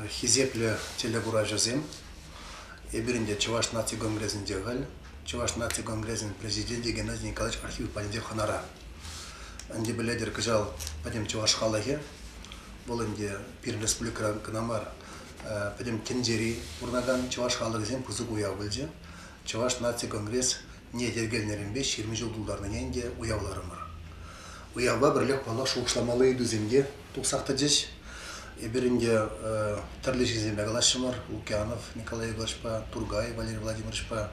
Хисеплӗ телекуравҫӑсем! Эпирӗн те Чӑваш наци конгресӗнче халь Чӑваш наци конгресӗн президенчӗ Геннадий Николаевич архив патӗнче хӑнара. Ӗнтӗ пӗлетӗр кӑҫал пӗтӗм чӑваш халӑхӗ, вӑл ӗнтӗ пирӗн республикӑра кӑна мар, пӗтӗм тӗнчери пурӑнакан чӑваш халӑхӗсем пысӑк уяв пулчӗ. Чӑваш наци конгресс не йӗркелнӗренпе ҫирӗм ҫул тултарнине ӗнтӗ уявларӑмӑр. Уявпа пӗрлех паллах шухӑшламалли ыйтусем те тухсах тӑчӗҫ. Эпир ӗнтӗ тӗрлӗ ҫынсемпе калаҫрӑмӑр. Лукьянов Николай Йоглаҫпа, Тургай Валерий Владимировичпа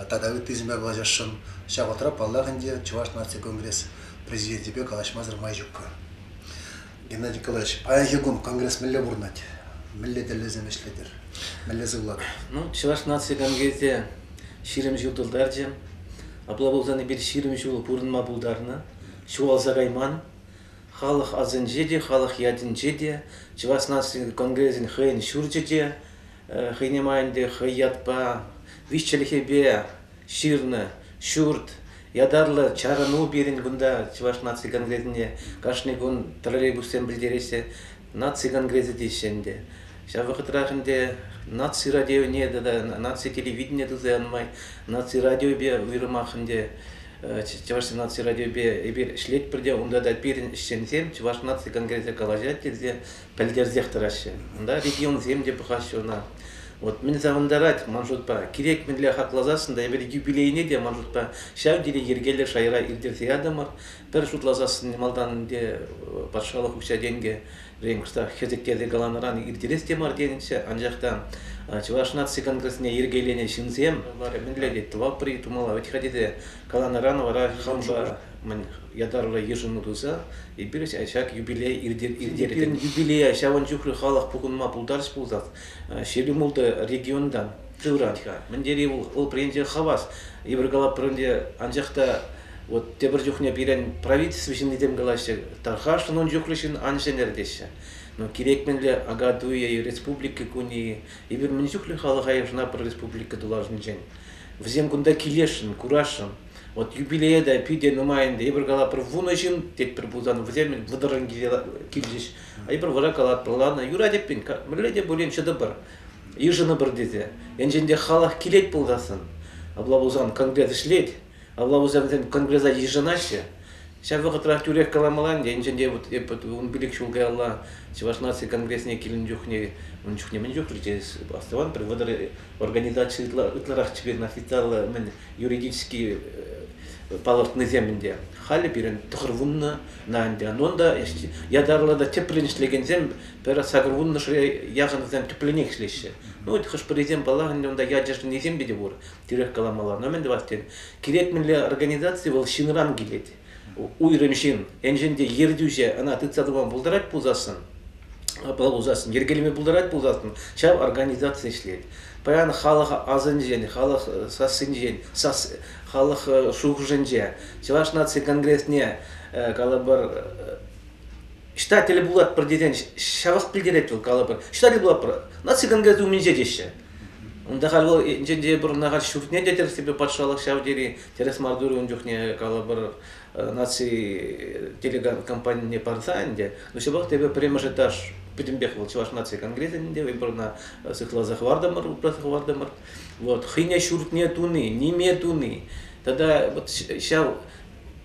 тата ыттисемпе калаҫасшӑн. Ҫав вӑхӑтра, паллах, ӗнтӗ Чӑваш наци конгресс президенчӗпе калаҫмасӑр май ҫуккӑ. Геннадий Николаевич, паянхи кун конгресс мӗнле пурӑнать? Мӗнле тӗллевсем ӗҫлетӗр? Мӗнле сывлатӑр? Ну, чӑваш наци конгресӗ ҫирӗм ҫул тултарчӗ. Апла пулсан эпир ҫирӗм ҫул пурӑнма пултарнӑ, ҫухалса кайман. Халӑх асӗнче те, халӑх ятӗнче те, чӑваш наци конгресӗн хӑйӗн ҫурчӗ те, Хӑйне май ӗнтӗ хӑй ятпа виҫчӗлӗхӗпе ҫырнӑ ҫурт ятарлӑ чарӑну пирӗн кунта Чӑваш наци конгресӗне кашни кун троллейбуссем пӗлтереҫҫӗ наци конгресӗ теҫҫӗ ӗнтӗ. Ҫав вӑхӑтрах ӗнтӗ наци радионе тата наци телевиденине туса янӑ май наци радиопе уйрӑмах ӗнтӗ Чӑваш наци радиопе эпир ӗҫлетпӗр те унта та пирӗн ӗҫченсем Чӑваш наци конгресӗ калаҫать тесе пӗлтерсех тӑраҫҫӗ. Унта регионсем те пӑхаҫҫӗ ӑна. Вот мӗн савӑнтарать ман шутпа, кирек мӗнле хакласассӑн та эпир юбилейне те ман шутпа ҫав тери йӗркеллӗ шайра ирттерсе ятӑмӑр. Пӗр шутласассӑн малтан ӗнтӗ патшалӑх укҫа-тенкӗ кӑштах хӗсӗктерсе каланӑран ирттерес те мар тенӗччӗ, анчах та Чӑваш наци конгресне йӗркеленӗ ҫынсем мӗнле тет, тӑвапӑр-и, тумалла вӗт-ха тесе каланӑран вара хампа мӗн ятарлӑ йышӑну туса эпир ҫак юбилей иртеретпӗр. Пирӗн юбилея ҫавӑн чухлӗ халӑх пухӑнма пултарчӗ пулсах Ҫирӗмултӑ регионта сыврать-ха. Мӗн тери вӑл упренче хавас. Эпир калап пӗринче анчах та вот тепӗр чухне пирӗн правительство ҫыннисем калаҫҫӗ, тархашӑн ун чухлӗ ҫын ан ҫӗнер теҫҫӗ. Но кирек мӗнле агатуя республики кунӗ эпир мӗн чухлӗ халӑха йышӑнатпӑр республика тулашӗнчен. Вӗсем кунта килесшӗн, курасшӑн. Вот юбилея та питӗ нумайӑн тейпӗр калатпӑр вунӑ ҫын тетпӗр пулсан вӗсем вӑтӑрӑн килчӗҫ. Айпӑр вара калатпӑр ладно юрать эппин мӗнле те пулин чӑтӑпӑр йышӑнӑпӑр тесе енчен те халӑх килет пулсассӑн апла пулсан конгресс ӗҫлет апла пулсан вӗсем конгресса йышӑнаҫҫӗ ҫав вӑхӑтрах тӳрех каламалла ӗнтӗ енчен те вот эп ун пилӗк ҫул каялла чӑваш наци конгресне килнӗ чухне ун чухне мӗн чухлӗ через астӑван пӗр вӑтӑр организаци ытларах теперь официаллӑ-мӗн юридически палӑртнисем ӗнтӗ. Халӗ пирӗн тӑхӑр вуннӑ, на ӗнтӗ, нонда ятарлӑ та тӗплӗн ӗҫлекенсем пӗр сакӑр вуннӑшре яхӑнсем тӗплӗнех ӗҫлеҫҫӗ. Ну, хӑш-пӗрисем, паллах, ӗнтӗ унта ячӗшӗннисем те пур, тӳрех каламалла. Но мӗн тӑвас тен, кирек мӗнле организаци вӑл ҫынран килет. уйрӑм ҫын, енчен те ертӳҫӗ ӑна тытса тӑма пултарать пулсассӑн, апла пулсассӑн, йӗркелеме пултарать пулсассӑн, ҫав организаци ӗҫлет. Паян халӑх асӑнчен, халӑх сассинчен, сас, халӑх шухӑшӗнче Чӑваш наци конгресне калӑпӑр читатель пулатпӑр тесен ҫавах пӗлтерет вӑл калӑпӑр читатель пулатпӑр наци конгресс умӗнче теҫҫӗ. Унта халь вӑл енчен те пӗр Нахач ҫуртне те тӗрӗссипе патшалӑх ҫав тери Тӗрӗс мар турӗ ун чухне, калӑпӑр, наци телекомпанине парса ӗнтӗ. Но ҫапах та эпӗ пӗрремӗш этаж пӗтӗмпех вӑл Чӑваш наци конгресӗн ӗнтӗ, эпир ӑна сыхласа хӑвартӑмӑр, упраса хӑвартӑмӑр. Вот, хӑйне ҫуртне туни, ниме туни тата вот ҫав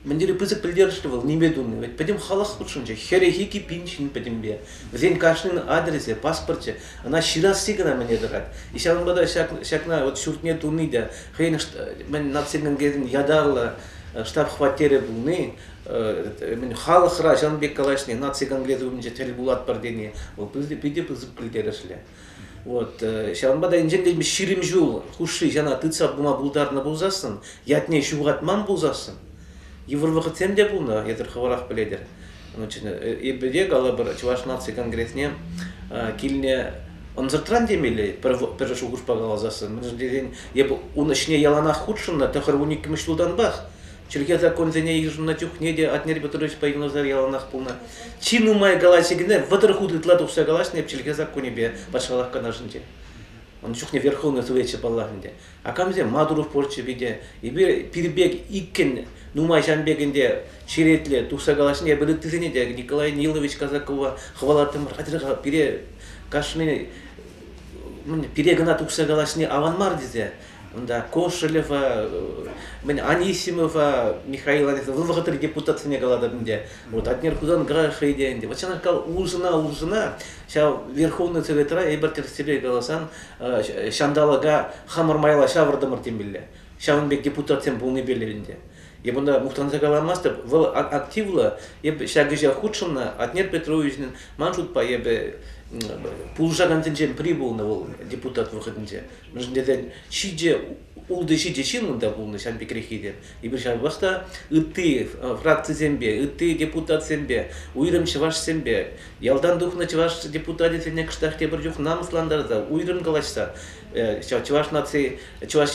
мӗн тери пысӑк пӗлтерӗшлӗ вӑл ниме туни. Ведь пӗтӗм халӑх хутшӑнчӗ, хӗрехи ки пин ҫын пӗтӗмпе. Вӗсен кашнин адресӗ, паспорчӗ, ӑна ҫырасси кӑна мӗне тӑрать. И ҫавӑнпа та ҫак, ҫакна вот ҫуртне туни те хӑйӗн мӗн наци ятарлӑ штаб-хваттерӗ пулни мӗн халӑхра ҫавӑн пек калаҫни наци конгресс умӗнче тӗл пулатпӑр тени вӑл питӗ пысӑк пӗлтерӗшлӗ. Вот ҫавӑнпа та инҫелле ҫирӗм ҫул хушши ҫана тытса пыма пултарнӑ пулсассӑн ятне ҫухатман пулсассӑн йывӑр вӑхӑтсем те пулнӑ эсир хӑвӑрах пӗлетӗр эпӗ те калӑпӑр Чӑваш наци конгресне килне ӑнсӑртран темелле пӗр, пӗр шухӑшпа каласассӑн мӗншӗн тесен эпӗ ун ӗҫне яланах хутшӑннӑ тӑхӑр вун иккӗмӗш ҫултанпах чӗлхе законсене йышӑннӑ чухне те Атнер Петрович Пайгнозар яланах пулнӑ чи нумай калаҫи кӗне вӑтӑр хут ытла тухса калаҫнӑ эп чӗлхе законӗпе патшалӑх канашӗнче ун чухне верховный совечӗ паллах ӗнтӗ Акамсем матур спортчӗ те, эпир пир пек иккӗн нумай ҫан пек ӗнтӗ черетле тухса калаҫни, эпир ыттисене те Николай Нилович Казакова хӑвалаттӑмӑр, атьӑр пире кашни пире кӑна тухса калаҫни аван мар тесе. Унта Кошелева, мӗн Анисимова, Михаил Анисимов, вӑл вӑхӑтри депутатсене калатӑп ӗнтӗ. Вот Атнер Хусан Грашей те ӗнтӗ. Вот ҫакна кал урсӑна-урсӑна ҫав Верховный Советра эпир тӗрӗссипе каласан ҫанталӑка хамӑр майла ҫавӑртӑмӑр темелле ҫавӑн пек депутатсем пулнипе ӗнтӗ эп унта мухтанса каламастӑп вӑл активлӑ эп ҫак ӗҫе хутшӑннӑ Атнер Петровичӑн ман шутпа эпӗ пулӑшакансенчен пӗри пулнӑ вӑл депутат вӑхӑтӗнче мӗншӗн тесен ҫичӗ ултӑ-ҫичӗ ҫын унта пулнӑ ҫав пекреххи те. Эпир ҫавӑнпах та ытти фракцисемпе, ытти депутатсемпе, уйрӑм чӑвашсемпе, ялтан тухнӑ чӑваш депутатӗсене кӑштах тепӗр чух намӑслантарса, уйрӑм калаҫса чӑваш наци, чӑваш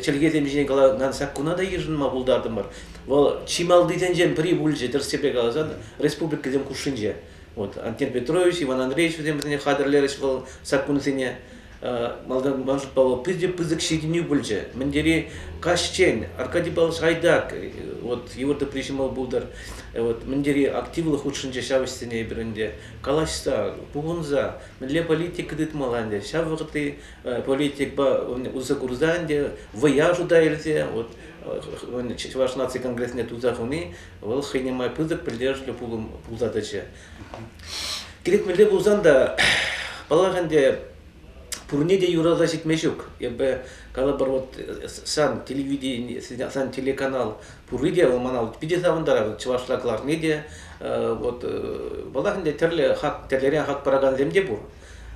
чӗлхесем ҫине каланӑ саккуна та йышӑнма пултартӑмӑр. Вӑл чи малтисенчен пӗри пулчӗ тӗрӗссипе каласан республикӑсем хушшинче. Вот Антон Петрович, Иван Андреевич вӗсем вӗсене хатӗрлерӗҫ вӑл саккунсене. Малтан Маша Павлова питӗ пысӑк ҫитӗнӳ пулчӗ. Мӗн тери каҫчен Аркадийпал Шайдак вот его ты прижимал пултӑр. Вот мӗн тери активлӑ хутшӑнчӗ ҫав ӗҫсене эпир ӗнтӗ. Калаҫса, пухӑнса мӗнле политика тытмалла ӗнтӗ. Ҫав вӑхӑтри политикпа усӑ курса ӗнтӗ вӑя шута илсе вот Чӑваш наци конгресне туса хуни вӑл хӑйне май пысӑк пӗлтерӗшлӗ пулса тӑчӗ. Кирек мӗнле пулсан та, паллах ӗнтӗ, пурне те юраса ҫитме ҫук. Эпӗ калӑпӑр, вот сан телевидение, сан телеканал пурри те вӑл мана питӗ савӑнтарать. Чӑвашла кӑларни те, вот, паллах ӗнтӗ, тӗрлӗ хак, тӗрлӗрен хак паракансем те пур.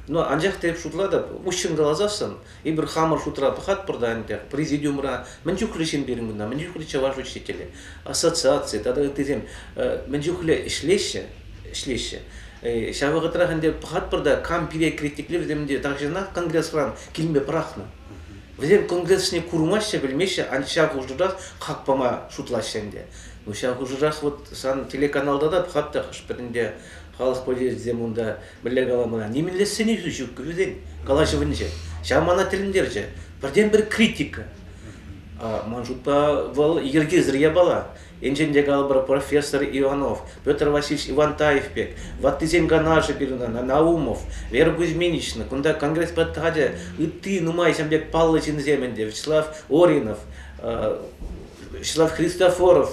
Но анчах та эп шутлатӑп, уҫҫӑн каласассӑн, Эпир хамӑр шутра пӑхатпӑр та ӗнтӗ, президиумра мӗн чухлӗ ҫын пирӗн кунта, мӗн чухлӗ чӑваш учителӗ, ассоциаци тата ыттисем мӗн чухлӗ ӗҫлеҫҫӗ, ӗҫлеҫҫӗ. Ҫав вӑхӑтрах ӗнтӗ пӑхатпӑр та кам пире критикле вӗсем ӗнтӗ тахҫанах конгресран килме пӑрахнӑ. Вӗсем конгресне курмаҫҫӗ, пӗлмеҫҫӗ, анчах ҫав хушӑрах хак пама шутлаҫҫӗ ӗнтӗ. Ну ҫав хушӑрах вот сан телеканалта та пӑхатта хӑш-пӗр ӗнтӗ халӑх повесӗсем унта Мӗнле калама, нимӗнле сӗнӳ-сӳ ҫук вӗсен калаҫӑвӗнче. Ҫав мана тӗлӗнтерчӗ. Пӗртен-пӗр критика. Ман шутпа, вӑл йӗркесӗр япала. Енчен те калӑпӑр, профессор Иванов, Петр Васильевич Ивантаев пек, ваттисен канашӗ пирӗн Наумов, Вера Кузьминична, кунта конгресс патхатӗ, ытти нумай ҫын пек паллӑ ҫынсем ӗнтӗ, Вячеслав Оринов, Вячеслав Христофоров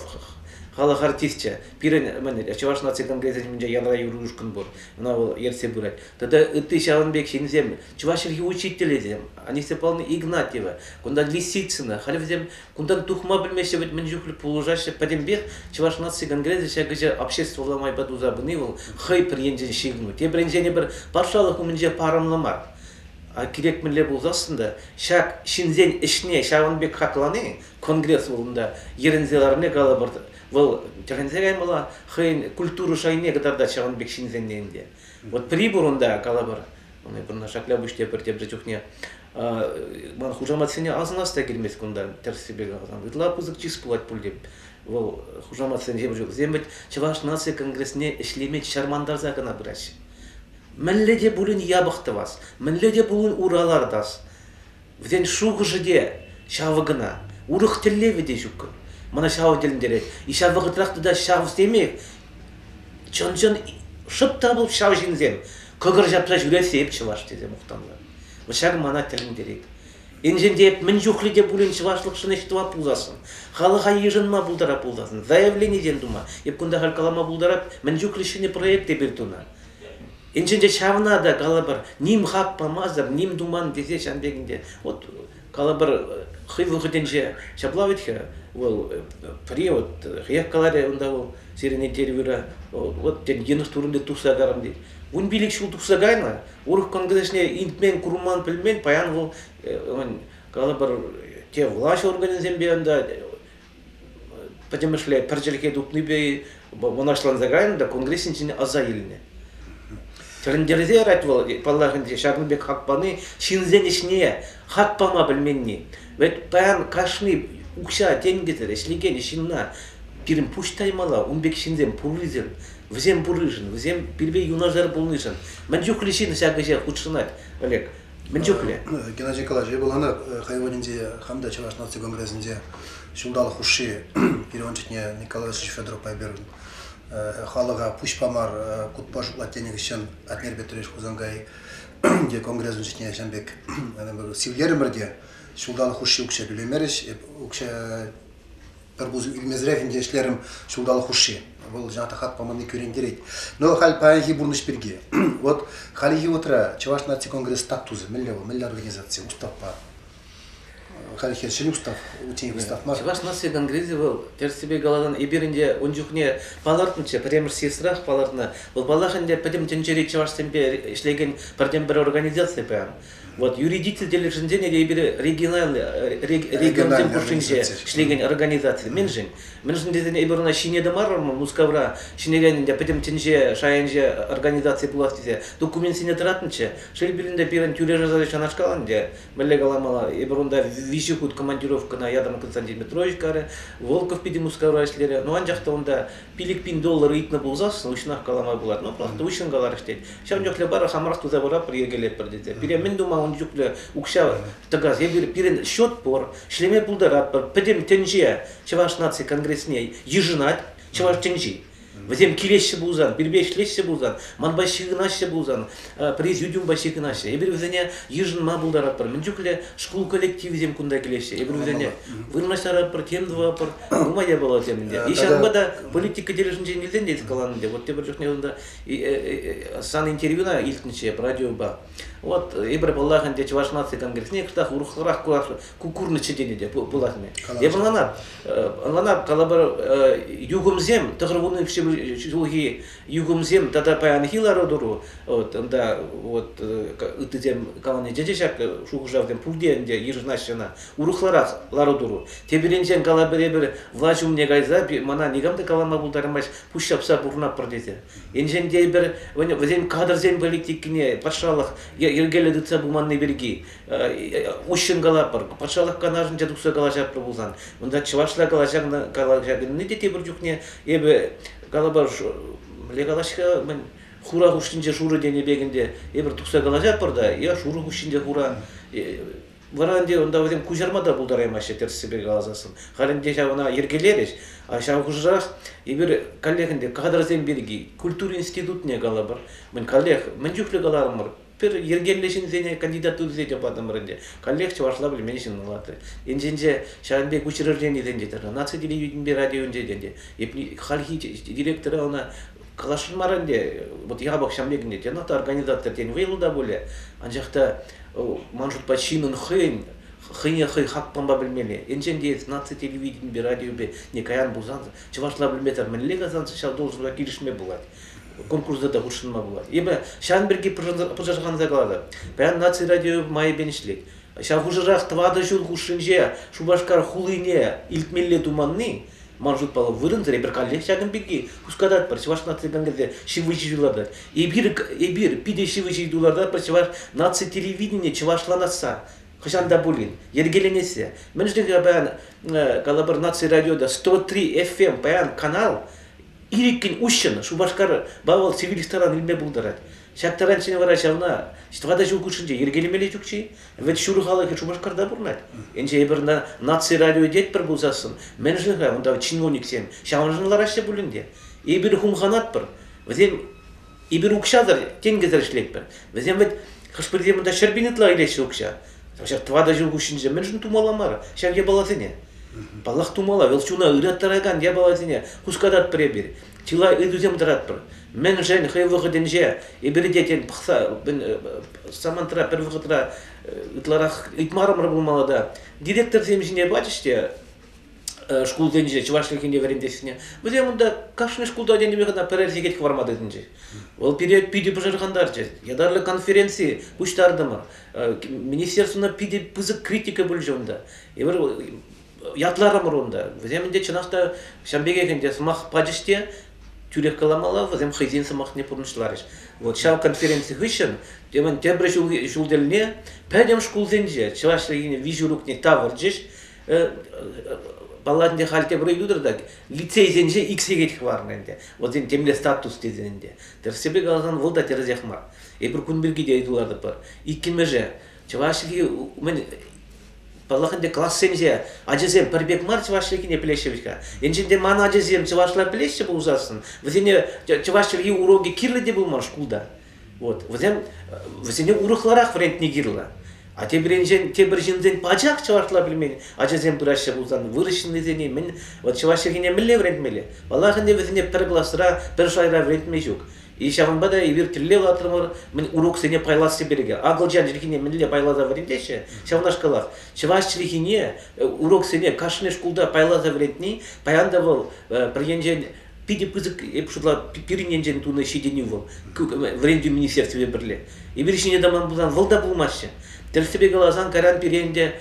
халӑх артисчӗ, Пирӗн мӗн, Чӑваш наци конгресӗсенче ялра юр ушкӑн пур, ӑна вӑл ертсе пырать. Тата ытти ҫавӑн пек ҫынсем, чӑваш чӗлхи учителӗсем, Анисия Павловна Игнатьева, кунтан Лисицына, халь вӗсем кунтан тухма пӗлмеҫҫӗ, вӗт мӗн чухлӗ пулӑшаҫҫӗ. Пӗтӗмпех Чӑваш наци конгресӗ ҫакӑҫа обществӑлла майпа туса пыни вӑл хӑй пӗр енчен ҫыхӑну, тепринчен пӗр патшалӑх умӗнче парӑмлӑ мар. А кирек мӗнле пулсассӑн та ҫак ҫынсен ӗҫне ҫавӑн пек хаклани конгресс вырӑнта йӗрӗнсе ларни калӑпӑр Вӑл тӗхӗнсе каймалла хӑйӗн культура шайне кӑтартать ҫавӑн пек ҫынсенне ӗнтӗ. Вот прибор унта калӑпӑр, пынӑ шакля пуҫне пӗр тепӗр чухне ман хушаматсене асӑнас та килмест кунта тӗрӗссипе каласан. Ытла пысӑк чыс пулать пуль тем. Вӑл хушаматсенче вӗсем вӗт Чӑваш наци конгресне ӗҫлеме чармантарса кӑна пыраҫҫӗ. Мӗнле те пулин япӑх тӑвас, мӗнле те пулин уралар тас. Вӗсен шухӑшӗ те ҫавӑ кӑна. Урӑх тӗллевӗ те ҫуккӑн. Мана ҫавӑ тӗлӗнтерет. И ҫав вӑхӑтрах тата ҫав темех. Чӑн-чӑн шӑп та пуль ҫав ҫынсем. Кӑкӑр ҫапса ҫӳрессе эп чӑваш тесе мухтанса. Вӑт ҫак мана тӗлӗнтерет. Енчен те эп мӗн чухлӗ те пулин чӑвашлӑхшӑн ӗҫ тума пулсассӑн, халӑха йышӑнма пултара пулсассӑн, заявленисем тума, эп кунта халь калама пултарать, мӗн чухлӗ ҫӗнӗ проект эпир тунӑ. Инҫете ҫавна та калӑпӑр, ним хак памасӑр, ним туман тесе ҫан пекинте вот калӑпӑр хӑй вӑхӑтӗнче ҫапла вӗт-ха вӑл пӗри вот хӑех каларӗ унта вӑл сирӗн интервьюра вот тен йӑнӑш турӗнте тухса тарӑм тет. Вун пилӗк ҫул тухса кайнӑ, урӑх конкретне илтмен, курман, пӗлмен, паян вӑл калӑпӑр те влаҫ органӗсемпе ӑнта Пӗтӗмӗшле пӗр чӗлхе тупнипе мӑнаҫланса кайнӑ та конгрессин ҫине аса илнӗ. Тӗлӗнтерсе ярать вӑл, паллах, ӗнтӗ ҫакӑн пек хак пани ҫынсен ӗҫне хак пама пӗлменни. Ведь паян кашни укҫа тенкӗсӗр ӗҫлекен ҫынна пирӗн пуҫ таймалла. Ун пек ҫынсем пуррисем, вӗсем пурришӗн, вӗсем пирпе юнашар пулнишӗн. Мӗн чухлӗ ҫын ҫак ӗҫе хутшӑнать, Олег? Мӗн чухлӗ? Геннадий калаҫу пуланӑ хӑйӗн вырӑнӗнче хам та Чӑваш наци конгресӗнче ҫулталӑк хушши пирӗн чухне Николай Ильич Федоровпа эпир халӑха пуҫпа мар кутпа шутлать тенӗ хыҫҫан Атнер Петрович Хусанкай те конгресӑн чухне ҫавӑн пек сивлерӗмӗр те ҫулталӑк хушши укҫа тӳлемерӗҫ. Эп укҫа пӗр пусӑ килмесӗрех ӗнтӗ ӗҫлерӗм ҫулталӑк хушши. Вӑл жансахат паманни кӳрентерет. Но халь паянхи пурнӑҫ пирки. Вот хальхи вутра Чӑваш наци конгресс статусӗ мӗнле вӑл? Мӗнле организаци? Уставпа. Хальхи ҫӗнӗ устав, утенек устав мар. Чӑваш наци конгресӗ вӑл, тӗрӗссипе каласан, эпир ӗнтӗ ун чухне палӑртнӑччӗ, пӗрремӗш съездрах палӑртнӑ. Вӑл, паллах, ӗнтӗ пӗтӗм тӗнчери чӑвашсемпе ӗҫлекен пӗртен-пӗр организаци паян. Вот юридици тӗлӗшӗнчен эпир региональ регионсем хушшинче ӗҫлекен организаци мӗншӗн? Мӗншӗн тесен эпир ӑна ҫине тӑмарӑмӑр Мускавра ҫӗнекен пӗтӗм тӗнче шайӗнче организаци пулас тесе документсене тӑратнӑччӗ. Шел пулин те пирӗн тӳре-шарса ҫанашкал ӗнтӗ. Мӗнле каламалла, эпир унта виҫӗ хут командировкӑна ятӑм Константин Петрович карӗ, Волков питӗ Мускавра ӗҫлерӗ. Ну анчах та унта пилӗк пин доллар ыйтнӑ пулсах уҫҫӑнах калама пулать. Ну, просто уҫҫӑн каларӗҫ тет. Ҫав чухлӗ барах амарах туса пыратпӑр, йӗркелетпӗр тесе. Пире мӗн тума ун чухлӗ укҫа тӑкас? Эпир пирӗн счет пур, ӗҫлеме пултаратпӑр. Пӗтӗм тӗнче Чӑваш наци конгресне йышӑнать, чӑваш тӗнчи. Вӗсем килеҫҫӗ пулсан, пирпе ӗҫлеҫҫӗ пулсан, манпа ҫыхӑнаҫҫӗ пулсан, президиум почти кӑнаҫҫӗ. Эпир вӗсене йышӑнма пултаратпӑр. Мӗн чухлӗ шкул коллективӗсем кунта килеҫҫӗ. Эпир вӗсене вырнаҫтаратпӑр, тем тӑватпӑр, нумай япаласем ӗнтӗ. Ҫавӑнпа та политика тӗлӗшӗнчен илтен те каланӑ Вот тепӗр чухне унта сан интервьюна илтнӗччӗ радиопа. Вот эпир паллах ӗнтӗ Чӑваш наци конгресне кӑштах урӑхларах курас курнӑччӗ тенӗ те пулас мӗн. Эпир ӑнланап, ӑнланап калӑпӑр юхӑмсем тӑхӑр вуннӑ ҫулхи юхӑмсем тата паянхи лару-тӑру вот ӑнта вот ыттисем калани тете ҫак шухӑшавсем пурте ӗнтӗ йышӑнаҫҫӗ ӑна урӑхларах лару-тӑру тепӗринчен кала пӗребер влаҫ умне кайса мана никам та калама пултармасть пуҫ ҫапса пурӑнатпӑр тесе енчен те пӗр вӗсен кадрсен политикине патшалӑх йӗркеллӗ тытса пыманни пирки уҫҫӑн калатпӑр патшалӑх канашӗнче тухса калаҫатпӑр пулсан унта чӑвашла калаҫакнӑ калаҫаканни те тепӗр чухне эпӗ калапа мӗнле калаҫ-ха, мӗн хура хушшинче шурӑ тенӗ пек ӗнтӗ эпир тухса калаҫатпӑр та, я шурӑ хушшинче хура. Вара ӗнтӗ унта вӗсем куҫарма та пултараймаҫҫӗ тӗрӗссипе каласассӑн. Халь ӗнтӗ ҫав ӑна йӗркелерӗҫ, а ҫав хушӑрах эпир каллех ӗнтӗ кадрсем пирки культура институтне калӑпӑр. Мӗн каллех, мӗн чухлӗ каларӑмӑр, Пӗр йӗркеллӗ ҫынсене кандидатурӑсене те патӑмӑр ӗнтӗ. Каллех чӑвашла пӗлмен ҫын вулатрӗ. Енченче ҫавӑн пек учрежденисенче тӑрнӑ наци телевиденипе радионче те ӗнтӗ. Хальхи директора ӑна калаҫмар ӗнтӗ. Вот япӑх ҫам пек ӗнтӗ. Йӑнах та организатор тен вӑйлӑ та пулӗ. Анчах та ман шутпа ҫынӑн хӑйӗн хӑйне хӑй хакпампа пӗлмелле. Енчен те эс наци телевиденипе, радиопе никаян пулсан, чӑвашла пӗлмесӗр мӗнле касансӑ, ҫав должноҫа килӗшме пулать. конкурса та хутшӑнма пулать. Эпӗ ҫавӑн пирки пӑшӑрханса калатӑп. Паян наци радио майӗпен ӗҫлет. Ҫав хушӑрах тӑватӑ ҫул хушшинче Шупашкар хулине илтмелле туманни, ман шутпа, вырӑнсӑр. Эпир каллех ҫакӑн пирки хускататпӑр. Чӑваш наци кӑнкӗрсе ҫывӑхи ҫул лартать. Эпир, эпир питӗ ҫывӑхи ҫул лартатпӑр Чӑваш наци телевиденине чӑвашланасса. Хӑҫан та пулин йӗркеленессе. Мӗншӗн паян, калӑпӑр, наци радиода 103 FM паян канал Иккӗн уҫҫӑн Шупашкар ба вӑл цивиль ресторан илме пултарать. Ҫак таранччен вара ҫавна тӑватӑ ҫул хушшинче йӗркелемелле ҫук-ши? Вӗт ҫур халӑхӗ Шупашкарта пурӑнать. Ӗнтӗ эпир ӑна наци радио тетпӗр пулсассӑн, мӗншӗн-ха унта чиновниксем ҫавӑншӑн лараҫҫӗ пулин те? Эпир хумханатпӑр, вӗсем Эпир укҫасӑр, тенкӗсӗр ӗҫлетпӗр. Вӗсем вӗт хӑш-пӗрисем унта ҫӗрпен ытла илеҫҫӗ укҫа. Ҫав тӑватӑ ҫул хушшинче мӗншӗн тумалла мар ҫав япаласене? Паллах тумалла, вӑл чуна ыраттаракан япаласене хускататпӑр эпир, чылай ыйтусем тӑратпӑр. Мӗншӗн хӑй вӑхӑтӗнче эпир те тен пӑхса самантра пӗр вӑхӑтра ытларах ыйтмарӑмӑр пулмалла та директорсем ҫине пачӗҫ те шкулсенче, чӑваш чӗлхине вӗрентессине, вӗсем унта кашни шкулта ӗненӗпе кӑна пӗрер сехет хӑварма тытӑнчӗҫ. Вӑл пире питӗ пӑшӑрхантарчӗ. Ятарлӑ конференци пуҫтартӑмӑр. Министерствӑна питӗ пысӑк критика пулчӗ унта. Эпир ятларӑмӑр унта. Вӗсем ӗнтӗ чӑнах та ҫав пекех ӗнтӗ сӑмах пачӗҫ те тӳрех каламалла, вӗсем хӑйсен сӑмахне пурнӑҫларӗҫ. Вот ҫав конференци хыҫҫӑн темӗн тепӗр ҫул, ҫул тӗлне пӗтӗм шкулсенче чӑваш чӗлхине виҫӗ урокне тавӑрчӗҫ. Балла ӗнтӗ халь тепре ютӑр та лицейсенче ик сехет хӑварнӑ ӗнтӗ. Вот тем темле статус тесен ӗнтӗ. Тӗрӗссипе каласан вӑл та тӗрӗсех мар. Эпир кун пирки те ыйту лартӑпӑр. Иккӗмӗше, чӑваш чӗлхи мӗн паллах ӗнтӗ классемсе ачасем пӗр пек мар чӑваш чӗлхине пӗлеҫҫӗ вӗт-ха. Енчен те ман ачасем чӑвашла пӗлеҫҫӗ пулсассӑн, вӗсене чӑваш чӗлхи уроки кирлӗ те пулман шкулта. Вот, вӗсем, вӗсене урӑхларах вӗрентни кирлӗ. А тепринчен, тепӗр ҫынсен пачах чӑвашла пӗлмен ачасем пыраҫҫӗ пулсан вырӑҫҫыннисене мӗн, вот чӑваш чӗлхине мӗнле вӗрентмелле? Паллах ӗнтӗ вӗсене пӗр класра, пӗр шайра вӗрентме ҫук. И ҫавӑнпа та эпир тӗллев лартрӑмӑр мӗн уроксене пайласси пирки. Акӑлчан чӗлхине мӗнле пайласа вӗрентеҫҫӗ? Ҫавнашкалах чӑваш чӗлхине уроксене кашни шкулта пайласа вӗрентни паян та вӑл пӗр енчен питӗ пысӑк эп шутла пирӗн енчен тунӑ ҫитӗнӳ вӑл вӗрентӳ министерствипе пӗрле эпир ҫине тӑман пулсан вӑл та пулмаҫҫӗ тӗрӗссипе каласан кайран пире ӗнтӗ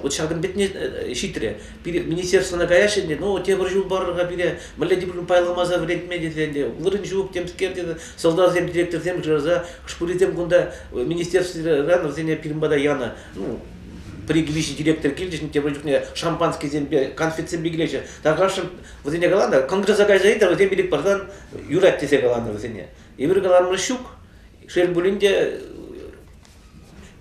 вот ҫакӑн петне ҫитрӗ пире министерствӑна каяҫҫӗ ӗнтӗ ну тепӗр ҫул парӑр-ха пире мӗнле тепӗр пайламаса вӗрентме тесе ӗнтӗ вырӑн ҫук темскер тесе сӑлтавсем директорсем шыраса хӑшпурисем кунта министерствӑран вӗсене пирӗн пата янӑ ну пӗр-ик виҫӗ директор килчӗҫ тепӗр чухне шампанскисемпе конфетсемпе килеҫҫӗ такашшӑн Вӗсене каланӑ, конгресса кайса ыйтар, вӗсем пилӗк парсан юрать тесе каланӑ вӗсене. Эпир каларӑмӑр ҫук. Шел пулин те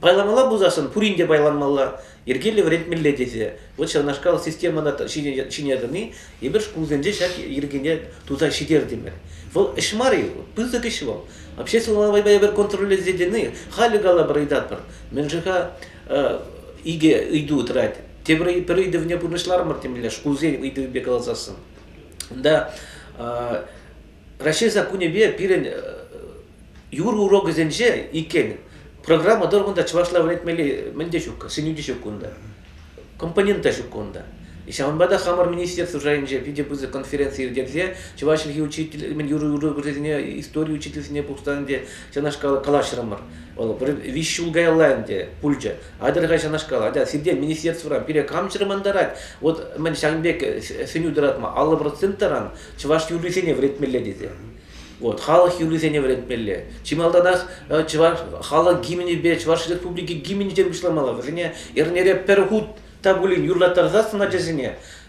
пайланмалла пулсассӑн пурин те пайланмалла, йӗркеллӗ вӗрентмелле тесе вот ҫавнашкал системӑна ҫине тӑни эпир шкулсенче ҫак йӗркене туса ҫитертӗмӗр. Вӑл ӗҫ мар-и? Пысӑк ӗҫ вӑл. Обществовая война контроллезены халӗ калӑпӑр ыйтатпӑр. Мӗншӗн-ха икӗ ыйту тӑрать. Тепӗр пӗр ыйтӑвне пурнӑҫларӑмӑр темле шкулсен ыйтӑвӗпе каласассӑн. Унта Раҫҫей саккунӗпе пирӗн юр урокӗсенче иккен программа тӑрӑх унта чӑвашла вӗрентмелли мӗн те ҫук, сӗнӳ те ҫук унта, компонент та ҫук унта. Ҫавӑнпа та хамӑр министерство шайӗнче питӗ пысӑк конференци ирттерсе чӑваш чӗлхи учитель мӗн юрӑ урокӗсене истори учительсене пухсан те ҫакнашкал калаҫрӑмӑр. Вӑл виҫ ҫул каялла ӗнтӗ пулчӗ. Атӑр-ха ҫакнашкал. Атя сирте министерствӑран пире кам чӑрмантарать? Вот мӗн ҫакӑн пек сӗнӳ тӑратма аллӑ процент таран чӑваш юррисене вӗретмелле тесе. Вот, халӑх юррисене вӗретмелле. Чи малтанах чӑваш халӑх гимнӗпе Чӑваш Республики гимнӗнчен пуҫламалла. Вӗсене эрнере пӗр хут та пулин юрлаттарсассӑн ачасене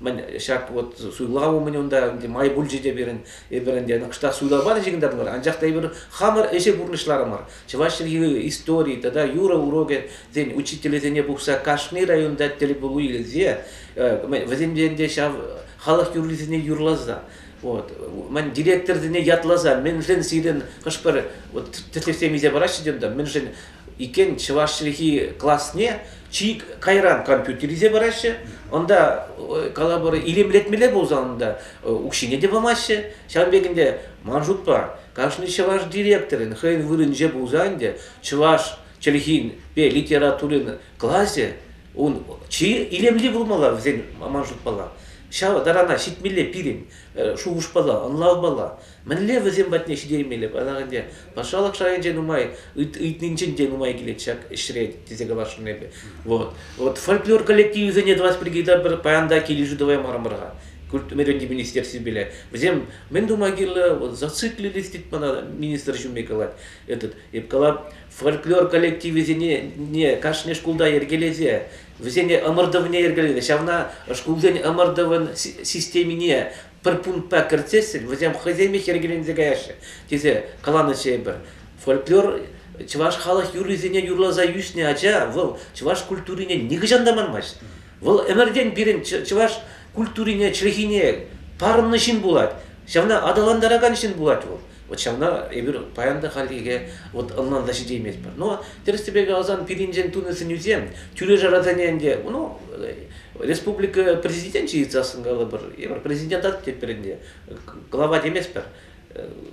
мӗн ҫак вот суйлав умӗн унта май пулчӗ те пирӗн эпир ӗнтӗ кӑштах суйлав панӑ ҫынкӑтатмӑр анчах та эпир хамӑр ӗҫе пурнӑҫларӑмӑр чӑваш чӗлхи истории тата юрӑ урокӗсен учителӗсене пухса кашни районта тӗл пулу илсе вӗсемпе ӗнтӗ ҫав халӑх юррисене юрласа вот ман директорсене ятласа мӗншӗн сирӗн хӑш-пӗр вот тӗслӗхсем илсе параҫҫӗ те унта мӗншӗн иккен чӑваш чӗлхи класне чи кайран компьютер илсе параҫҫӗ унта калабор илемлетмелле пулсан унта укҫине те памаҫҫӗ ҫавӑн пек ӗнтӗ ман шутпа кашни чӑваш директорӗн хӑйӗн вырӑнӗнче пулсан ӗнтӗ чӑваш чӗлхинпе литературин класӗ ун чи илемли пулмалла вӗсен ман шутпала ҫав тарана ҫитмелле пирӗн шухӑшпала ӑнлавпала Мӗнле вӗсем патне ҫитермелле паян ӗнтӗ? Патшалӑх шайӗнче нумай ыйтнинчен те нумай килет ҫак ӗҫре тесе каласшӑн эпӗ. Вот. Вот фольклор коллективӗсене тӑвас пирки та пӗр паян та килӗшӳ тӑваймарӑмӑр-ха. Культмиренди министерствипеле. Вӗсем мӗн тума кирлӗ? Вот зациклились тет мана министр ҫумми калать этот. Эп кала фольклор коллективӗсене не кашни шкулта йӗркелесе, вӗсене ӑмӑртӑвне йӗркелесе, ҫавна шкулсен ӑмӑртӑвӗн системине пӗр пунктпа кӗртсессӗн вӗсем хӑйсемех йӗркеленсе каяҫҫӗ тесе каланӑ тепӗр фольклор чӑваш халӑх юррисене юрласа ӳснӗ ача вӑл чӑваш культурине нихӑҫан та манмасть вӑл ӗмӗртен пирӗн чӑваш культурине чӗлхине парӑннӑ ҫын пулать ҫавна аталантаракан ҫын пулать вӑл Вот ҫавна эпир паян та хальлӗхе вот ӑнланса ҫитейместпӗр. Но тӗрӗс-тӗпе каласан пирӗнчен тунӑ сӗнӳсем тӳре-шарасене ӗнтӗ, ну, республика президенчӗ ыйтсассӑн калӑпӑр, эпир президент атать пирӗнте, глава теместпӗр.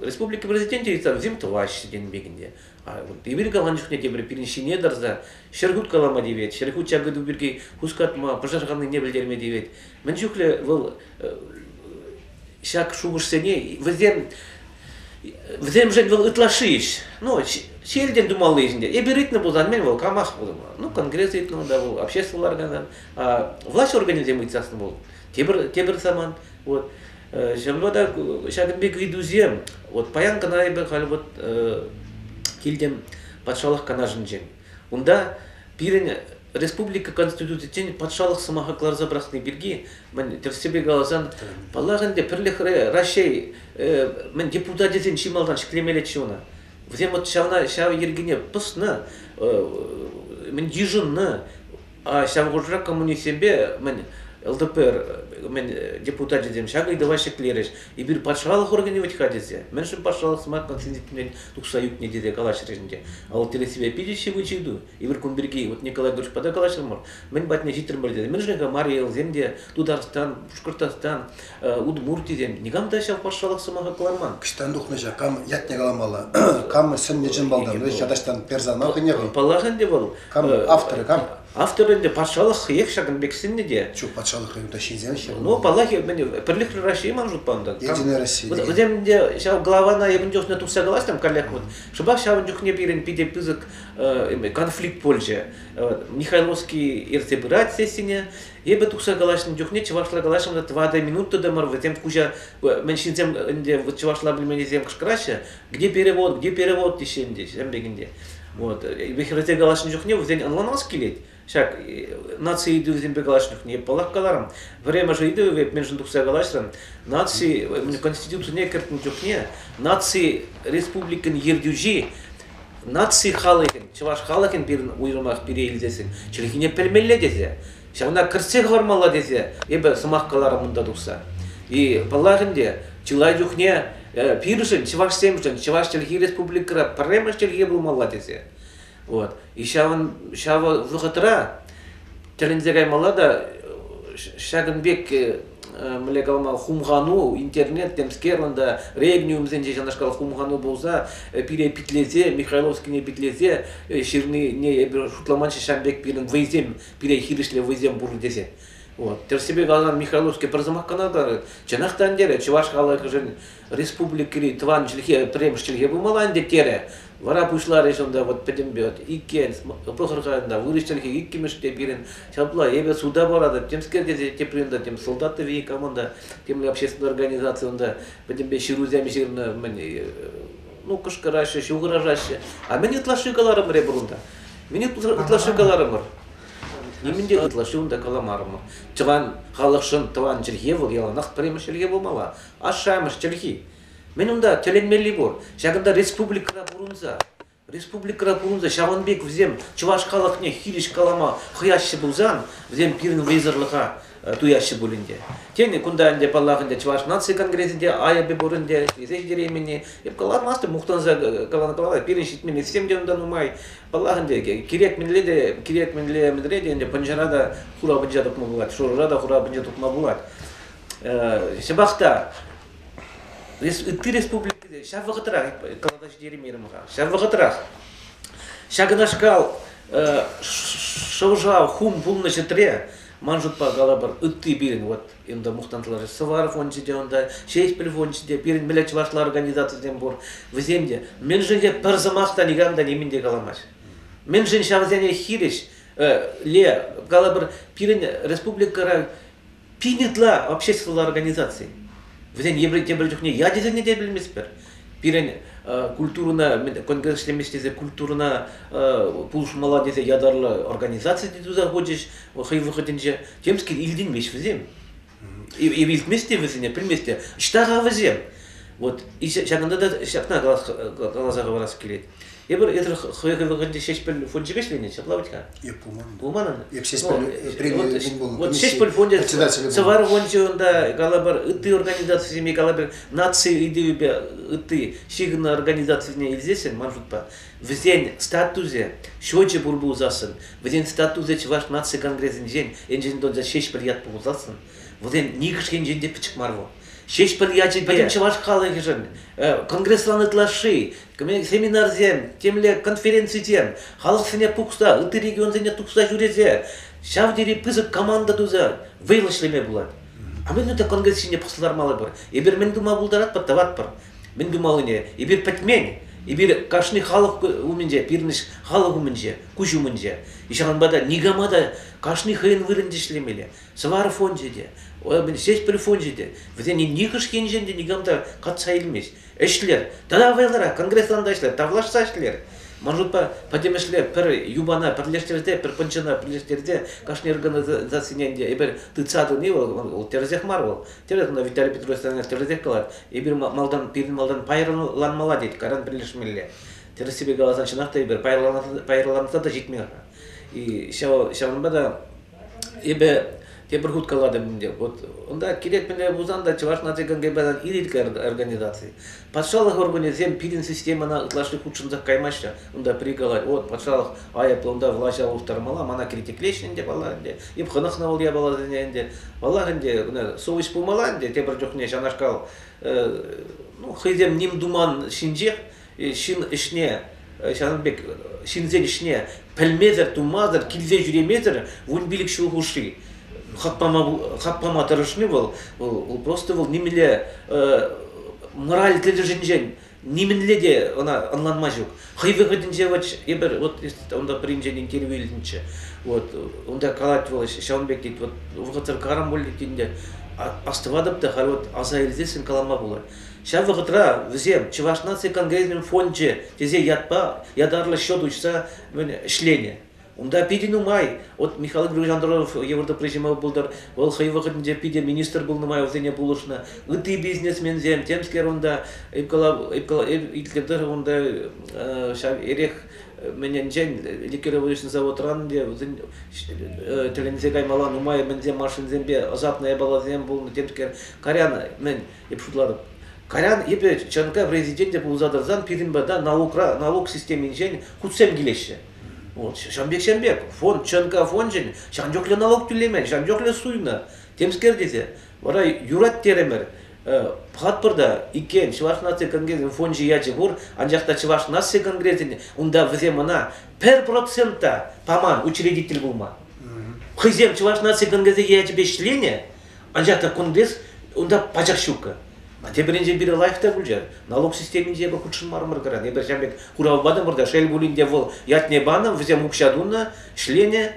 Республика президенчӗ ыйтсан вӗсем тӑваҫҫӗ тенӗ пекӗн те. Вот. Эпир каланӑ чухне те пирӗн ҫине тӑрса ҫӗр хут калама тивет, ҫӗр хут ҫак ыйту пирки хускатма, пӑшӑрханнине пӗлтерме тивет. Мӗн чухлӗ вӑл ҫак шухӑшсене вӗсем вӗсемшӗн вӑл ытлашши ӗҫ. Ну, ҫилтен тумалли ӗҫӗнче. Эпир ыйтнӑ пулсан, мӗн вӑл камах пулмалла. Ну, конгресс ыйтнӑ та вӑл, общество ларган, влаҫ органӗсем ыйтсассӑн вӑл тепӗр тепӗр самант. Вот. Ҫавӑнпа та ҫакӑн пек ыйтусем вот паян кӑна эпӗ халь вот килтӗм патшалӑх канашӗнчен. Унта пирӗн республика конституцийӗнчен патшалӑх сӑмаха кӑларса пӑрахни пирки мӗн тӗрӗссипе каласан паллах ӗнтӗ пӗрлӗхре Раҫҫей мӗн депутатӗсен чи малтан ҫӗклемеллеччӗ ӑна. Вӗсем вот ҫавна ҫав йӗркене пӑснӑ мӗн йышӑннӑ Ҫав хушӑра коммунистсемпе мӗн ЛДПР мӗн депутачӗсем ҫак ыйтӑва ҫӗклерӗҫ. Эпир патшалӑх органӗ вӗт-ха тесе. Мӗншӗн патшалӑх сӑмакан сентимент тухса ӳкнӗ тесе калаҫрӗҫ ӗнтӗ. А вот тӗлӗшсемпе питӗ ҫывӑч ыйту. Эпир кун пирки вот Николай Григорьевич пата калаҫрӑмӑр. Мӗн патне ҫитрӗмӗр тесе. Мӗншӗн-ха Мария Элсем те Тутарстан, Пушкӑртстан удмуртисем никам та ҫав патшалӑх сӑмаха кӑларман. Кӑҫтан тухнӑҫа кам ятне каламалла, кам сӗннӗ чӑн малтан, вӗсен ятаҫтан персона хӑйне хӑй. Паллах ӗнтӗ вӑл. Кам авторӗ, кам? Автор ӗнтӗ патшалӑх хӑех ҫакӑн пек сӗннӗ те. Чух патшалӑх хӑйунта ҫынсем ҫӗр. Ну, паллах, Пӗрлехлӗ Россия ман шутпа унтан. Единая Россия. Вӗсем ӗнтӗ ҫав главана эпӗн чухне тухса калаҫтӑм каллех вот. Шӑпах ҫавӑн чухне пирӗн питӗ пысӑк конфликт пулчӗ. Михайловский ертсе пырать сессине, Эпӗ тухса калаҫнӑ чухне чӑвашла калаҫрӑм та тӑватӑ минут тытӑмӑр, вӗсем куҫа, мӗн ҫынсем ӗнтӗ вот чӑвашла пӗлменнисем кӑшкӑраҫҫӗ, где перевод, где перевод теҫҫӗ ӗнтӗ, ҫӗм пекенде. Вот. Вӗсем калаҫнӑ чухне вӗсен ӑнланас килет. Ҫак наци ыйтӑвӗсемпе калаҫнӑ чухне паллах каларӑм. Пӗрремӗш ыйтӑвӗ мӗншӗн тухса калаҫрӑм. Наци Конституцине кӗртнӗ чухне наци республикин ертӳҫи наци халӑхӗн, чӑваш халӑхӗн пирӗн уйрӑмах пире илсессӗн чӗлхине пӗлмелле тесе, ҫавна кӗртсе хӑвармалла тесе эпӗ сӑмах каларӑм унта тухса. И паллах ӗнтӗ, чылай чухне пирӗншӗн, чӑвашсемшӗн, чӑваш чӗлхи республикӑра пӗрремӗш чӗлхе пулмалла тесе. Вот. И ҫавӑн ҫавӑ вӑхӑтра тӗлӗнсе каймалла та ҫакӑн пек мӗнле калама хумхану интернет темскерлӑн та регниумсенче ҫакнашкал хумхану пулса пире питлесе михайловскине питлесе ҫырнине эпир шутламанччӗ ҫавӑн пек пирӗн вӑйсем пире хирӗҫле вӑйсем пур тесе вот тӗрӗссипе каласан михайловский пӗр сӑмах кӑна тарать чӑнах та ӗнтерет чӑваш халӑхӗшӗн республикӑри тӑван чӗлхе пӗрремӗш чӗлхе пулмалла ӗнтӗ терӗ. Вара пуҫларӗҫ унта вот пӗтӗмпе иккен, пӑхӑр-ха ӑнта вырӑс чӗлхи иккӗмӗш те пирӗн. Ҫапла эпӗ суда паратӑп, темскер тесе тепри унта тем солдат тӑви команда, темле общественная организация унта пӗтӗмпе ҫырусем ҫырнӑ, мӗн, ну кӑшкӑраҫҫӗ, ҫухӑрашаҫҫӗ. А мӗн ытлашши каларӑмӑр эпир унта? Мӗн ытлашши каларӑмӑр? Нимӗн те ытлашши унта каламарӑмӑр. Тӑван халӑхшӑн тӑван чӗлхе вӑл яланах пӗрремӗш чӗлхе пулмалла. Ашшӗ-амӑш чӗлхи. Мӗн унта тӗлӗнмелли пур. Ҫакӑнта республикӑра пурӑнса, республикӑра пурӑнса ҫавӑн пек вӗсем чӑваш халӑхне хирӗҫ калама хӑяҫҫӗ пулсан, вӗсем пирӗн вӑйсӑрлӑха туяҫҫӗ пулин те. Тен, кунта ӗнтӗ, паллах, ӗнтӗ Чӑваш наци конгресӗнче айӑпӗ пур ӗнтӗ, ӗҫлесе ҫитереймен-и, эп каламастӑп, мухтанса каланӑ паллах, пирӗн ҫитменлӗхсем те унта нумай. Паллах ӗнтӗ, кирек мӗнле те, кирек мӗнле мӗнре те ӗнтӗ пӑнчӑра та хура пӑнча тупма пулать, шурӑра та хура пӑнча тупма пулать. ҫапах та ытти республикӑсем ҫав вӑхӑтрах каласа ҫитереймерӗм-ха ҫав вӑхӑтрах ҫакнашкал шӑв-шав хум пулнӑ ҫӗтре ман шутпа калӑпӑр ытти пирӗн вот enda мухтантларӗ Сӑвар фончӗ те унта Ҫеҫпӗл фончӗ те пирӗн мӗле чӑвашла организацисем пур вӗсем те мӗншӗн те пӗр сӑмах та никам та нимӗн те каламасть мӗншӗн ҫавсене хирӗҫ ле калӑпӑр пирӗн республикӑра Пин ытла обществӑлла организаци. Вӗсем еврей те пӗр чухне я тесене те пӗлместпӗр. Пирӗн культурӑна конгресс ӗҫлемест тесе культурӑна пулӑшмалла тесе ятарлӑ организаци те туса хучӗҫ хӑй вӑхӑтӗнче. Темскер илтӗнмеҫ вӗсем. Илтмест те вӗсене, пӗлмест те. Ҫта-ха вӗсем. Вот ҫакӑнта та ҫакна каласа хӑварас килет. Эпир эсир хӑйӑр вӑхӑтӗнче Ҫеҫпӗл фончӗ ӗҫленӗ, ҫапла вӗт-ха? Эп пулман. Пулман ӑна? Эп Ҫеҫпӗл премия кун булнӑ. Вот Ҫеҫпӗл фончӗ Сӑвар фончӗ унта калӑпӑр ытти организацисене калӑпӑр наци ыйтӑвӗпе ытти ҫыхӑннӑ организацисене илсессӗн ман шутпа вӗсен статусӗ счечӗ пур пулсассӑн, вӗсен статусӗ Чӑваш наци конгресӗнчен енчен тунса Ҫеҫпӗл ят пулсассӑн, вӗсен нихӑш енчен те пӗчӗк мар вӑл. Ҫеҫпӗл ячӗпе чӑваш халӑхӗшӗн конгреслан ытлашши семинарсем, темле конференцисем, халӑхсене пухса, ытти регионсене тухса ҫӳресе ҫав тери пысӑк команда туса вӑйлӑ ӗҫлеме пулать. А мӗн ӗнтӗ конгресс ҫине пӑхса лармалӑпӑр? Эпир мӗн тума пултаратпӑр, тӑватпӑр. Мӗн тумаллине эпир пӗтмен. Эпир кашни халӑх умӗнче, пирӗнӗш халӑх умӗнче, куҫ умӗнче. Ҫавӑнпа та никама та кашни хӑйӗн вырӑнти ӗҫлемелле. Сӑвар фончӗ те, Ҫеҫпӗл фончӗ те, вӗсене нихӑш енчен те никам та катса илмест. ӗҫлер. Тата вӑйлӑрах конгреслан та ӗҫлер, тавлашса ӗҫлер. Ман шутпа, пӗтӗмӗшле пӗр юпана пӗрлештерсе, пӗр пӑнчӑна пӗрлештерсе кашни организацине те эпир тытса тӑни вӑл, вӑл, вӑл тӗрӗсех мар вӑл. Тӗрӗс кунта Виталий Петрович тӗрӗсех калать. Эпир малтан, пирӗн малтан пайрӑланмалла тет, каран пӗрлешмелле. Тӗрӗссипе каласан, чӑнах та эпир пайрӑланса та ҫитмӗ-ха. И ҫав, ҫавӑнпа та Эпӗ тепӗр хут калатӑп ӗнтӗ. Вот унта кирек мӗнле пулсан та Чӑваш наци конгресӗн ирӗке организаци. Патшалӑх органӗсем пирӗн системӑна ытлашши хутшӑнса каймаҫҫӗ. Унта прикалать. Вот патшалӑх айӑплӑ унта влаҫа улӑштармалла. Мана критиклеҫҫӗ ӗнтӗ, паллах, ӗнтӗ. Эп хӑнӑхнӑ вӑл япаласене ӗнтӗ. Паллах ӗнтӗ, ӑна совеҫ пулмалла ӗнтӗ тепӗр чухне ҫавнашкал. Ну, хӑйсем ним туман ҫинчех ҫын ӗҫне ҫавӑн пек ҫынсен ӗҫне пӗлмесӗр, тумасӑр, килсе ҫӳремесӗр вун пилӗк ҫул хушши хак пама, хак пама тӑрӑшни вӑл, вӑл, вӑл просто вӑл нимӗнле мораль тӗлӗшӗнчен нимӗнле те ӑна ӑнланма ҫук. Хӑй вӑхӑтӗнче вот эпир вот унта принчен интервью илнӗччӗ. Вот унта калать вӑл ҫавӑн пек тет вот вӑхӑтсӑр карам пуль тет ӗнтӗ астӑватӑп та халь вот аса илсессӗн калама пулать. Ҫав вӑхӑтра вӗсем Чӑваш наци конгресӗн фончӗ тесе ятпа ятарлӑ счет уҫса ӗҫленӗ. Унта питӗ нумай. Вот Михаил Григорьевич Андронов евӗр тупрежима пултӑр. Вӑл хӑй вӑхӑтӗнче питӗ министр пулнӑ май вӗсене пулӑшнӑ. Ытти бизнесменсем темскер унта иккӗлтӗр унта ҫав эрех мӗненчен ликеровочный заводран те вӗсен тӗлӗнсе каймалла нумай мӗнсем машинсемпе ӑсатнӑ япаласем пулнӑ темскер карян мӗн Эп шутлатӑп. Каян эпӗ ЧНК президенте пулса тӑрсан пирӗн пата наукра, налук системинчен хутсем килеҫҫӗ. Вот ҫавӑн пек ҫавӑн пек фонд ЧНК фончӗн ҫавӑн чухлӗ налук тӳлемен, ҫавӑн чухлӗ суйнӑ. Темскер тесе вара юрать терӗмӗр. Пӑхатпӑр та иккен Чӑваш наци конгресӗн фончӗ ячӗ пур, анчах та Чӑваш наци конгресӗн унта вӗсем ӑна пӗр процент та паман учредитель пулма. Хӑйсем Чӑваш наци конгресӗ ячӗпе ӗҫленӗ, Анчах та кун пек унта пачах ҫуккӑ. Тепӗринчен пирӗн лайф та пулчӗ. Налук системинче эпӗ хутшӑнмарӑмӑр кӑран. Эпир ҫав пек хурав патӑмӑр та, шел пулин те вӑл ятне панӑ, вӗсем укҫа тунӑ, ӗҫленӗ.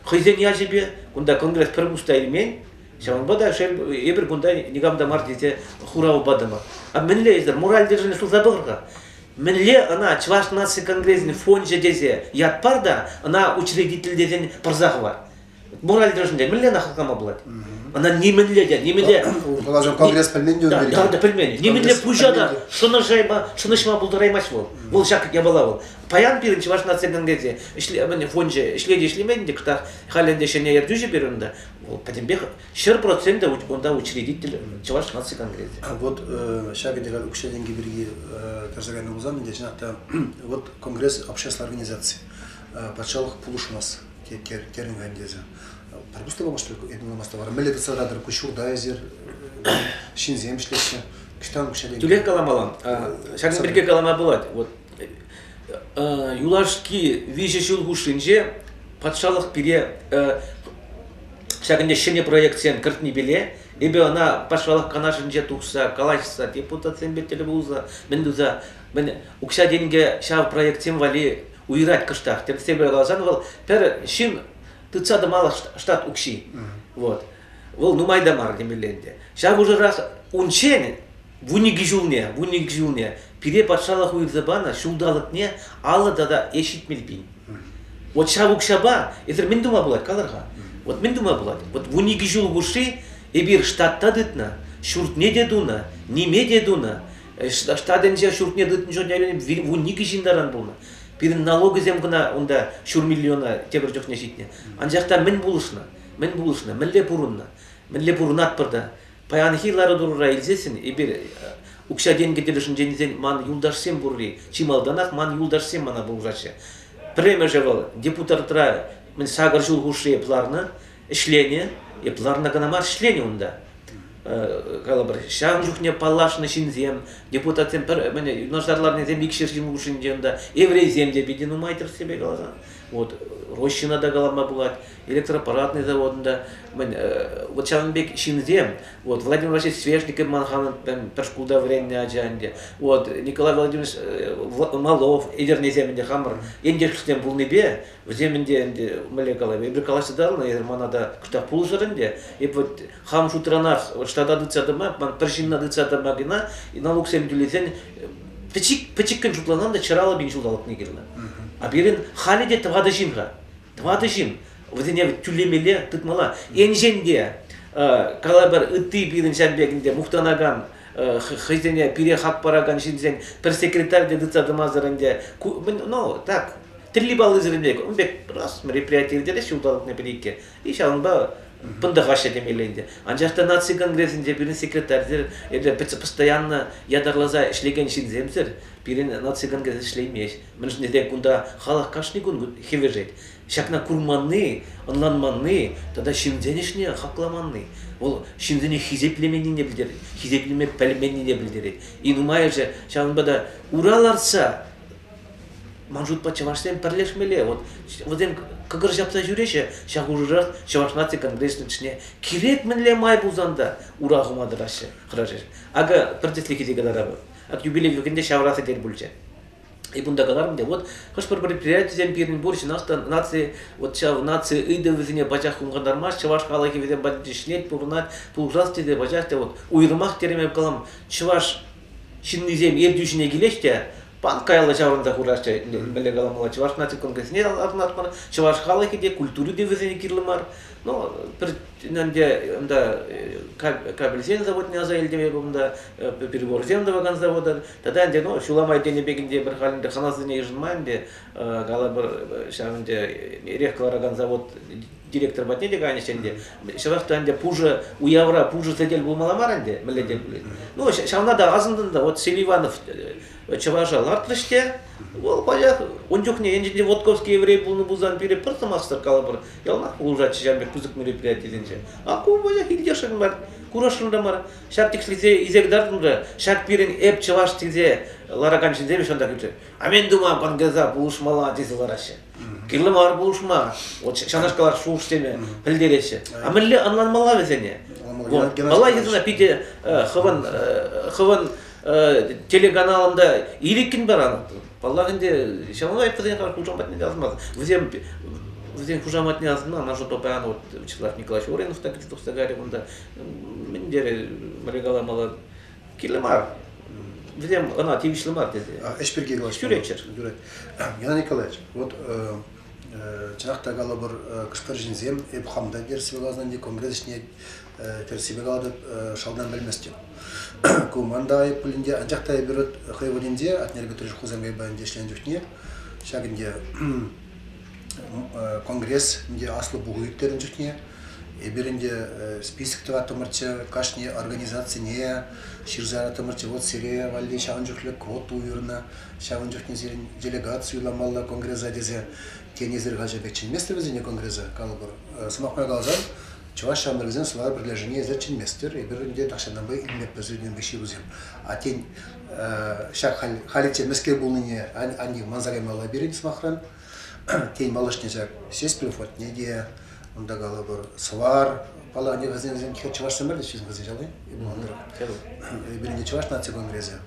Хӑйсен ячӗпе кунта конгресс пӗр кус та илмен. Ҫавӑнпа та шел, эпир кунта никам та мар тесе хурав патӑмӑр. А мӗнле эсӗр моральдержӗне сулса пӑхӑр-ха. Мӗнле ӑна Чӑваш наци конгресӗн фончӗ тесе ят пар та ӑна учредитель тесен пӑрса хӑвар. мораль тӗлӗшӗнче мӗнле ӑна хаклама пулать? Ӑна нимӗнле те, нимӗнле... Калаҫу конгресс пӗлмен те, да, да, да, пӗлмен. Нимӗнле пуҫа та шӑнӑшма, шӑнӑҫма пултараймасть вӑл. Вӑл ҫак япала вӑл. Паян пирӗн Чӑваш наци конгресӗ фончӗ ӗҫлет, ӗҫлемен ӗнтӗ кӑтах. Халӗ ӗнтӗ ҫӗнӗ ертӳҫӗ пирӗн унта. Вӑл пӗтӗмпех ҫӗр проценте унта учредитель Чӑваш наци конгресӗ. А вот ҫак ӗнтӗ укҫа-тенкӗ пирки кӗрсе кайнӑ пулсан, ӗнтӗ чӑнах та вот конгресс общество организаци патшалӑх пулӑшмас. терӗн ӗнтӗ эсӗ. Пропустила, может, этем намаз та мелле тытса тӑратӑр, куҫҫурта эсир ҫынсем ӗҫлеҫҫӗ. Кӑҫтан куҫа Тӳрех каламалла. Ҫакӑн пирки калама пулать. Вот юлашки виҫӗ ҫул хушшинче патшалӑх пире ҫакӑн те ҫӗнӗ проектсем кӗртнипеле эпӗ ӑна патшалӑх канашӗнче тухса калаҫса депутатсемпе тӗл пулса мӗн туса мӗн укҫа-тенкӗ ҫав проектсем валли уйӑрать кӑштах. Тӗрӗсне пӗле каласан, вӑл пӗр ҫын тытса тӑмалла штат укҫи. Вот. Вӑл нумай та мар темелле ӗнтӗ. Ҫав хушӑрах унччен вун икӗ ҫулне, вун икӗ ҫулне пире патшалӑх уйӑрса панӑ ҫулталӑкне алӑ тата ӗҫ ҫитмел пин. Вот ҫав укҫапа эсир мӗн тума пулать, калӑр-ха? Вот мӗн тума пулать? Вот вун икӗ ҫул хушши эпир штатта тытнӑ, ҫуртне те тунӑ, ниме те тунӑ, Ӗҫ таҫтатӗнче ҫуртне тытнӑ чухне вун икӗ ҫын таран пулнӑ. Пирӗн налогӗсем кӑна унта ҫур миллиона тепӗр чухне ҫитнӗ. Анчах та мӗн пулӑшнӑ? Мӗн пулӑшнӑ? Мӗнле пурӑннӑ? Мӗнле пурӑнатпӑр та? Паянхи лару-тӑрура илсессӗн эпир укҫа-тенкӗ тӗлӗшӗнчен тесен ман юлташсем пурри чи малтанах ман юлташсем мана пулӑшаҫҫӗ. Пӗрремӗшӗ вӑл депутатра сакӑр ҫул хушши эп ларнӑ. ӗҫленӗ, эп ларна кӑна мар ӗҫленӗ унта. Калӑпӑр, ҫавӑн чухне паллашнӑ ҫынсем, депутатсем пӗр мӗне юнашар ларнисем икҫер ҫын хушшинче унта еврейсем те питӗ нумай тӗрӗссипе каласан. Вот Рощина та калама пулать, электропаратный заводында мӗн вот ҫавӑн пек ҫынсем, вот Владимир Васильевич Свешников ман ханӑн пӗр шкулта вӗреннӗ ача ӗнтӗ, вот Николай Владимирович Малов, Эдернесем ӗнтӗ хамӑр ентешсем пулнипе Вӗсем ӗнтӗ ӗнтӗ мӗнле калаҫ? Эпир калаҫса эсир мана та кӑштах пулӑшӑр ӗнтӗ. Эп вот хам шутра нар штата тытса тӑма, ман пӗр ҫынна тытса тӑма кӑна налуксем тӳлесен пӗчик пӗчӗккӗн шутланан та чӑраллӑ пин ҫулталӑкне кирлӗ. А пирӗн халӗ те тӑватӑ ҫын-ха. Тӑватӑ ҫын. Вӗсене тӳлемелле тытмалла. Енчен те калӑпӑр ытти пирӗн ҫав пек ӗнтӗ мухтанакан хӑйсене пире хак паракан ҫынсен пӗр секретарь те тытса тӑмасӑр ӗнтӗ ну так тӗлли паллисем пек ун пек раз мероприяти иртерех ҫулталӑкне пӗр иккӗ и ҫавӑнпа пӑнтӑхаҫҫӗ темелле ӗнтӗ анчах та наци конгресӗнче пирӗн секретарьсем эпӗ постоянно ятарласа ӗҫлекен ҫынсемсӗр пирӗн наци конгресс ӗҫлеймест мӗншӗн тесен кунта халӑх кашни кун хӗвӗшет ҫакна курманни ӑнланманни тата ҫынсен ӗҫне хакламанни вӑл ҫынсене хисеплеменнине пӗлтерет хисеплеме пӗлменнине пӗлтерет и нумайӑшӗ ҫавӑнпа та ура лартса Ман шутпа чӑвашсем пӗрлешмелле. Вот вӗсем кӑкӑр ҫапса ҫӳреҫҫӗ ҫав хушӑрах Чӑваш наци конгресӗн ӗҫне. Кирек мӗнле май пулсан та ура хума тӑраҫҫӗ хӑрашӗҫ. Акӑ пӗр тӗслӗхе те кӑтартамӑн. Ак юбилей кӗнекене ҫавра сӗтел пулчӗ. Эп унта каларӑм те, вот хӑш-пӗр предприятисем пирӗн пур ҫынах та наци, вот ҫав наци ыйтӑвӗсене пачах хумхантармасть, чӑваш халӑхӗ вӗсем патӗнче ҫӗнет, пурӑнать, пулӑшас тесе пачах та вот уйрӑмах тереме калам, чӑваш ҫыннисем ертӳ ҫине килеҫ те пан каялла ҫаврӑнса хураҫҫӗ. Мӗнле каламалла, чӑваш наци конгресне лартмар, чӑваш халӑхӗ те, культури те вӗсене кирлӗ мар. Ну, пӗр ӗнтӗ унта кабельсен заводне аса илтӗм эпӗ унта, переборсем тӑвакан завода. Тата ӗнтӗ, ну, ҫул амай тенӗ пек ӗнтӗ пӗр халь ӗнтӗ ханасене йышӑнман ӗнтӗ, калӑпӑр, ҫав ӗнтӗ эрех кӑларакан завод директор патне те кайнӑччӗ ӗнтӗ. Ҫавах та ӗнтӗ пушӑ, уявра пушӑ сӗтел пулмалла мар ӗнтӗ, мӗнле те пулин. Ну, ҫавна та асӑнтӑм та, вот Сергей Иванов э, чӑваша лартрӗҫ те, вӑл пачах ун чухне енчен Вотковский еврей пулнӑ пулсан пире пӗр сӑмахсӑр калӑпӑр, яланах пулӑшатчӗ ҫав пек пысӑк мероприятисенче. А ку пачах иртешрӗн мар, курасшӑн та мар. Ҫак тӗкслесе изек тартӑм та, ҫак пирӗн эп чӑваш тесе ларакан ҫынсем ҫантах ӳсер. Амен тума пангаса пулӑшмалла тесе лараҫҫӗ. Кирлӗ мар пулӑшма, вот ҫавнашкалах шухӑшсене пӗлтереҫҫӗ. А мӗнле ӑнланмалла вӗсене? Малла йышӑна питӗ хӑвӑн хӑвӑн телеканалында ирӗккӗн баран паллах ӗнтӗ ҫавна май пӗрре хушам патне язмасын вӗсем вӗсен хушаматне асӑнма она что-то паян вот Вячеслав Николаевич Оринов та кӗтсе тухса кайрӗ унта мӗн терӗ регаламала Кирлӗ мар. Вилем ӑна тивӗҫлӗ мар тесе. Ӗҫ пирки калаҫма. Ҫӳреччӗр. Ҫӳрет. Геннадий Николаевич, вот чӑнах та калӑпӑр, кӑшкӑр ҫынсем эп хам та тӗрӗссипе каласан те, конгресс ӗҫне тӗрӗссипе калатӑп, шалтан пӗлместӗп. Ку ман та айӑп пулин те, анчах та эпир хӑй вырӑнӗнче Атнер Петрович Хусанкайпа ӗнтӗ ӗҫленӗ чухне ҫак ӗнтӗ Конгресс ӗнтӗ аслӑ пуху ирттернӗ чухне эпир ӗнтӗ список тӑваттӑмӑрччӗ кашни организацине ҫырса яраттӑмӑрччӗ. Вот сире валли ҫавӑн чухлӗ квот уйӑрнӑ, ҫавӑн чухне сирӗн делегацию юсамалла конгресса тесе тенӗ ҫырхаҫӑ пек чӗнместӗр вӗсене конгресса, калӑпӑр. Сӑмах май каласан, чӑваш ҫамрӑкӗсен сувар пӗрлешӗвне эсир чӗнместӗр, эпир ӗнтӗ тахҫанпа илмеппӗр сирӗн пек ҫырусем. А тен, Ҫак халиччен мӗскер пулнине анне манса каймалла пирӗн сӑмахран. Тен, малашне ҫак сестри фотне те, унта калӑпӑр, сӑвар, пала, ӗнер вӗсен вӗсен чӑвашсем мар теҫҫӗ кӗсӗ ҫалли, эпир ӗнер пирӗнте чӑваш наци конгресӗ.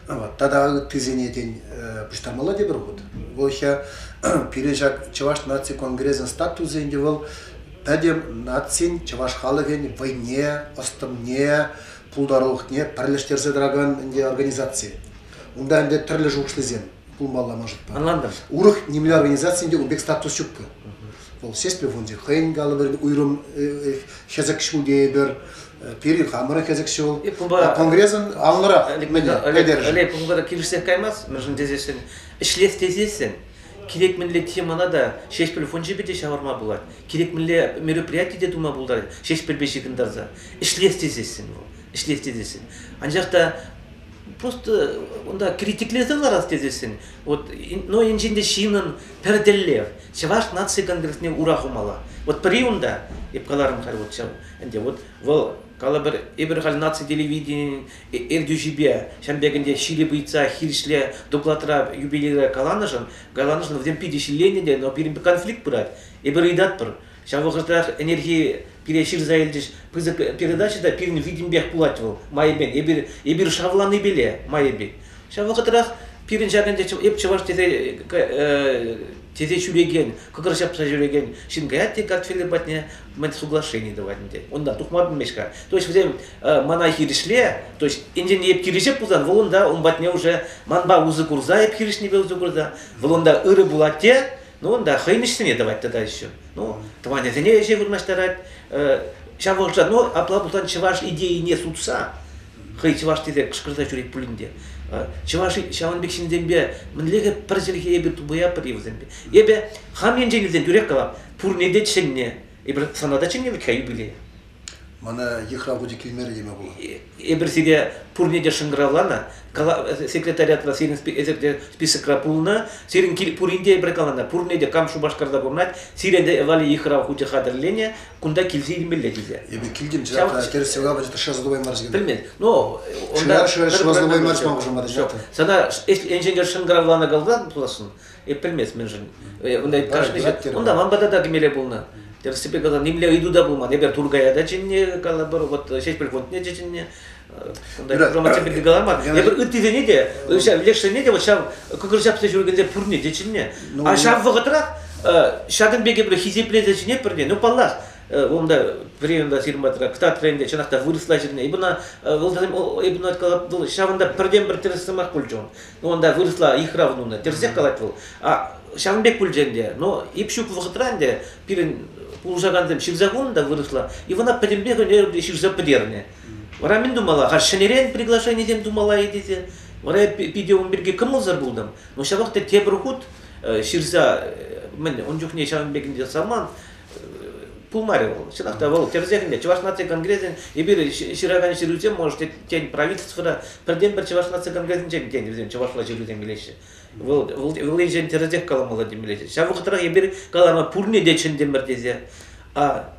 Вот. Тата ыттисене тен пуҫтармалла тепӗр хут. Вӑл ҫа пирӗн ҫак чӑваш наци конгресӗн статусӗ ӗнтӗ вӑл пӗтӗм нацин, чӑваш халӑхӗн вӑйне, ӑс-тӑнне, пултарулӑхне пӗрлештерсе тӑракан ӗнтӗ организаци. Унта ӗнтӗ тӗрлӗ шухӑшлисем пулмалла мӑшӑтпа. Ӑнлантӑм. Урӑх нимле организаци ӗнтӗ ун пек статус ҫуккӑ. Вӑл Сеспе фончӗ хӑйӗн калӑпӑрӗн уйрӑм хӗсӗк ҫул тейӗпӗр. Пирӗн хамӑрӑн хӗсӗк ҫул. Конгресӑн анлӑрах пӗлтерӗшӗ. Олег, пункта килӗшсех каймас, мӗншӗн тесессӗн, ӗҫлес тесессӗн, Кирек мӗнле темӑна та Ҫеҫпӗл фончӗпе те ҫавӑрма пулать, кирек мӗнле мероприяти те тума пултарать Ҫеҫпӗлпе ҫыхӑнтарса. Ӗҫлес тесессӗн вӑл, ӗҫлес тесессӗн. Анчах та просто унта критиклесе ларас тесессӗн, вот, но инҫен те ҫыннӑн пӗр тӗллев, Чӑваш наци конгресне ура хумалла. Вот пӗри унта, эп каларӑм халь вот ҫав, ӗнтӗ вот вӑл калӑпӑр, эпир халь наци телевиденийӗн Ертӳҫӗпе Ҫӗнтӗкӗнте ҫирӗп ыйтса хирӗҫле докладра юбилейра каланӑшӑн, каланӑшӑн вӗсем питӗ ҫилленнӗ те, но пирӗн конфликт пырать. Эпир ыйтатпӑр. Ҫав вӑхӑтрах ӗнерхи пире ҫырса илчӗҫ пысӑк передача та пирӗн витӗмпех пулать вӑл майӗпен. Эпир, эпир шавланипеле майӗпен. Ҫав вӑхӑтрах пирӗн ҫак ӗнтӗ эп чӑваш тесе тесе ҫӳрекен, кӑкӑр ҫапса ҫӳрекен ҫын каять те картфелӗ патне, мӗн соглашени тӑвать ӗнтӗ. Унта тухма пӗлмест-ха. То есть вӗсем мана хирӗҫле, то есть ӗнтӗне эп кирӗҫеп пулсан, вӑл унта ун патне уже манпа усӑ курса эп хирӗҫнипе усӑ курса, вӑл унта ырӑ пулать те, ну унта хӑймӗҫсене тӑвать тата еще. Ну, тӑванӗсене ӗҫе вырнаҫтарать. Ҫав вӑхӑтра, ну, апла пулсан чӑваш идейине сутса, хӑй чӑваш тесе кӑшкӑрса ҫӳрет пулин те, чӑваш ҫавӑн пек ҫынсемпе мӗнле пӗр чӗлхе эпир тупӑяпӑр-и вӗсемпе? Эпӗ хам енчен вӗсем тӳрех калам, Пурне те чӗннӗ. Эпир сана та чӗннӗ вӗт-ха юбилей. Мана йыхрав хучӗ килмерӗ теме пулать. Эпир сире пурне те шӑнкӑравланӑ. Секретариатра сирӗн эсир те списокра пулнӑ. Сирӗн пурин те эпир каланӑ. Пурне те кам Шупашкарта пурӑнать, сире те Вали йыхрав хучӗ хатӗрленӗ. Кунта килсе илмелле сире. Эпир килтӗм, чӑнах та тӗрӗс ҫӑлкапа шӑрса тупаймарӗҫ. Пӗлмест. Ну, шӑрса тупаймарӗҫ ман хушӑмра. Сана енчен шӑнкӑравланӑ калсан пуласшӑн. Эп пӗлмест мӗншӗн. Э, унта унта ман пата та кӗмеле пулнӑ. Тӗрӗссипе калсан нимле ыйту та пулман. Эпир Тургая та чӗннӗ, калӑпӑр, вот Ҫеҫпӗл фондне те чӗннӗ. Унта громадсем пирки каламан. Эпир ыттисене те, ҫав лешсене те, вот ҫав кӑкӑр ҫапса ҫӳрекенсем пурне те чӗннӗ. А ҫав вӑхӑтрах ҫакӑн пекки бир хисеплесе чӗнетпӗр ну паллах унда временда сирматра кстат временде чӑнах та вырӑсла ҫырнӑ ибна вӑл ҫавӑнта пӗртен-пӗр тӗрӗс сӑмах пулчӗ Унта вырӑсла ыйхра тунӑ, тӗрсех калать вӑл. А ҫавӑн пек пулчӗ ӗнтӗ. Но ип ҫук вӑхӑтра ӗнтӗ пирӗн пулӑшакансем ҫырса хунӑ та вырӑсла, и вона пӗтӗмпех ӗнернӗ ҫырса пӗтернӗ. Вара мӗн тумалла? Халь ҫӗнӗрен приглашенисем тумалла-и тесе. Вара я питӗ ун пирки кӑмӑлсӑр пултӑм. Но ҫавах та тепӗр хут ҫырса мӗн ун чухне ҫавӑн пек ӗнтӗ саман пулмарӗ вӑл. Чӑнах та вӑл тӗрӗсех Чӑваш наци конгресӗн эпир ҫыракан ҫырусем можете тен правительствӑра пӗртен-пӗр Чӑваш наци конгресӗнчен тен вӗсем чӑвашла ҫырусем килеҫҫӗ. Вӑл вӑл вӑл енчен тӗрӗсех каламалла темелле. Ҫав вӑхӑтрах эпир каланӑ пурне те чӗнтӗмӗр тесе. А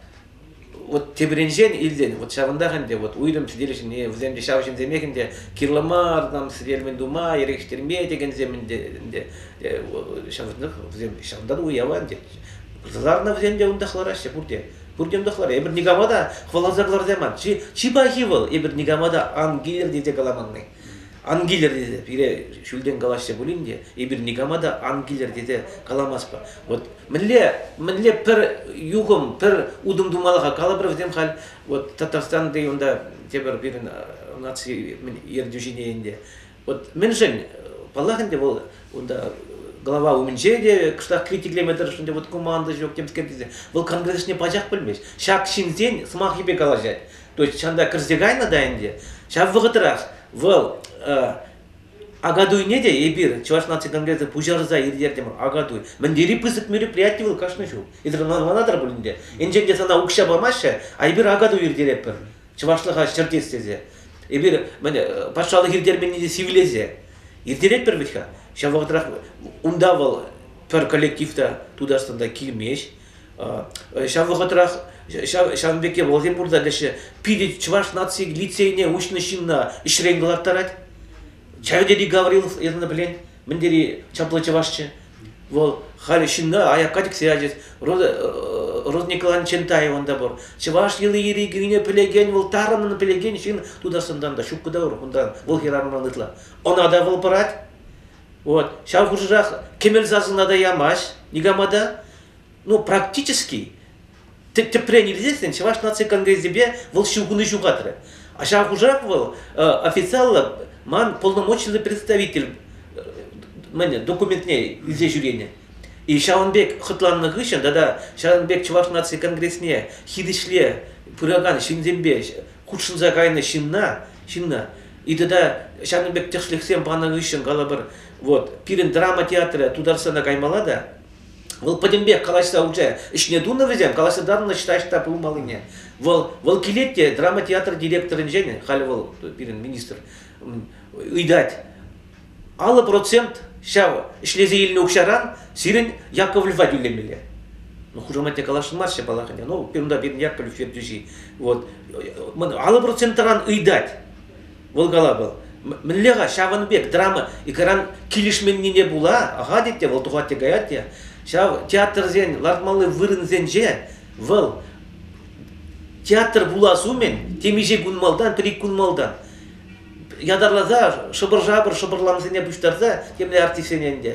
вот тепринчен илсен вот ҫавӑнтах ӗнтӗ вот уйрӑм сӗтел ҫине вӗсем те ҫав ҫынсемех ӗнтӗ кирлӗ мар там сӗтелмен тума ерекштерме текенсем ӗнтӗ ӗнтӗ ҫавӑнтах вӗсем ҫавӑнтан уява ӗнтӗ Сӑсарнӑ вӗсем те унтах лараҫҫӗ пурте. Пурте унтах лараҫҫӗ. Эпир никама та хӑваласа кӑларса яман. Чи, чи пахи вӑл, эпир никама та ан килӗр тесе каламанни. Ан килӗр тесе пире ҫӳлтен калаҫҫӗ пулин те эпир никама та ан килӗр тесе каламастпӑр. Вот мӗнле мӗнле пӗр юхӑм, пӗр утӑм тумалла-ха, калӑпӑр вӗсем халь вот Татарстанти унта тепӗр пирӗн наци ертӳҫине ӗнтӗ Вот мӗншӗн, паллах ӗнтӗ, вӑл унта голова умӗнче те кӑштах критиклеме тӑрӑшнӑ ӗнтӗ, вот команда ҫок темскер тесе, вӑл конгресне пачах пӗлмест. Ҫак ҫынсен сӑмахӗпе калаҫать. То есть ҫанта кӗрсе кайнӑ та ӗнтӗ. Ҫав вӑхӑтрах вӑл Агадуйне те эпир Чӑваш наци конгресӗ пуҫарса ирттертӗмӗр Агадуй. Мӗн тери пысӑк мероприяти вӑл кашни ҫул. Эсир манатӑр пулин те. Енчен те сана укҫа памаҫҫӗ, а эпир Агадуй иртеретпӗр. чӑвашлӑха ҫӗртес тесе, эпир мӗне, патшалӑх иртерменни те сивлесе, иртеретпӗр вӗт-ха. Ҫав вӑхӑтрах унта вӑл пӗр коллектив та Тутарстанта килмест. Ҫав вӑхӑтрах ҫавӑн пекки вӑлсем пурта теҫҫӗ, питӗ чӑваш наци лицейне уҫнӑ ҫынна ӗҫрен кӑларттарать. Ҫав тери Гаврилов, это пӗлен, мӗн тери чаплӑ чӑвашчӗ. Вӑл халӗ ҫынна аякка тӗксе ячӗ. Роза Николаевна Чентаева та пур. Чӑваш йӑли-йӗри кӳнине пӗлекен, вӑл тарӑннӑн пӗлекен ҫын Тутарстандан та ҫуккӑ та урӑх унтан. Вӑл хӗрарӑмран ытла. Ӑна та вӑл пӑрать. Вот. Ҫав хушӑрах кӗмел сасӑна та ямасть никама та. Ну, практически тӗпрен илсессӗн Чӑваш наци конгресӗпе вӑл ҫыхӑну ҫухатрӗ. Ҫав хушах вӑл официаллӑ ман полномочиллӑ представитель мӗн документне илсе ҫӳренӗ. И ҫавӑн пек хӑтланнӑ хыҫҫӑн тата ҫавӑн пек Чӑваш наци конгресне хирӗҫле пыракан ҫынсемпе хутшӑнса кайнӑ ҫынна, ҫынна и тата ҫакӑн пек тӗслӗхсем панӑ хыҫҫӑн калӑпӑр, вот пирӗн драма театрӗ Тутарстана каймалла та Вӑл пӗтӗм пек калаҫса хучӗ. Ӗҫне тунӑ вӗсем, калаҫса татнӑ считаҫ та пулмаллине. Вӑл, вӑл килет те драма театр директорӗнчен, халь вӑл пирӗн министр, ыйтать. Аллӑ процент ҫав ӗҫлесе илнӗ укҫаран сирӗн Яковлевпа тӳлемелле. Ну, хушаматне калаҫмаҫҫӗ паллах ӗнтӗ. Ну, пирунта пирӗн Яковлев ертӳҫи. Вот. Аллӑ процентран ыйтать. Вӑл кала вӑл. Мӗнле-ха ҫавӑн пек драма икран килӗшменнине пула ахатить те, вӑл тухать те каять те. Ҫав театрсен лартмалли вырӑнсенче вӑл театр пулас умӗн темиҫе кун малтан, пӗр ик кун малтан ятарласа шӑпӑр-шапӑр шӑпӑрлансене пуҫтарса темле артистсене ӗнтӗ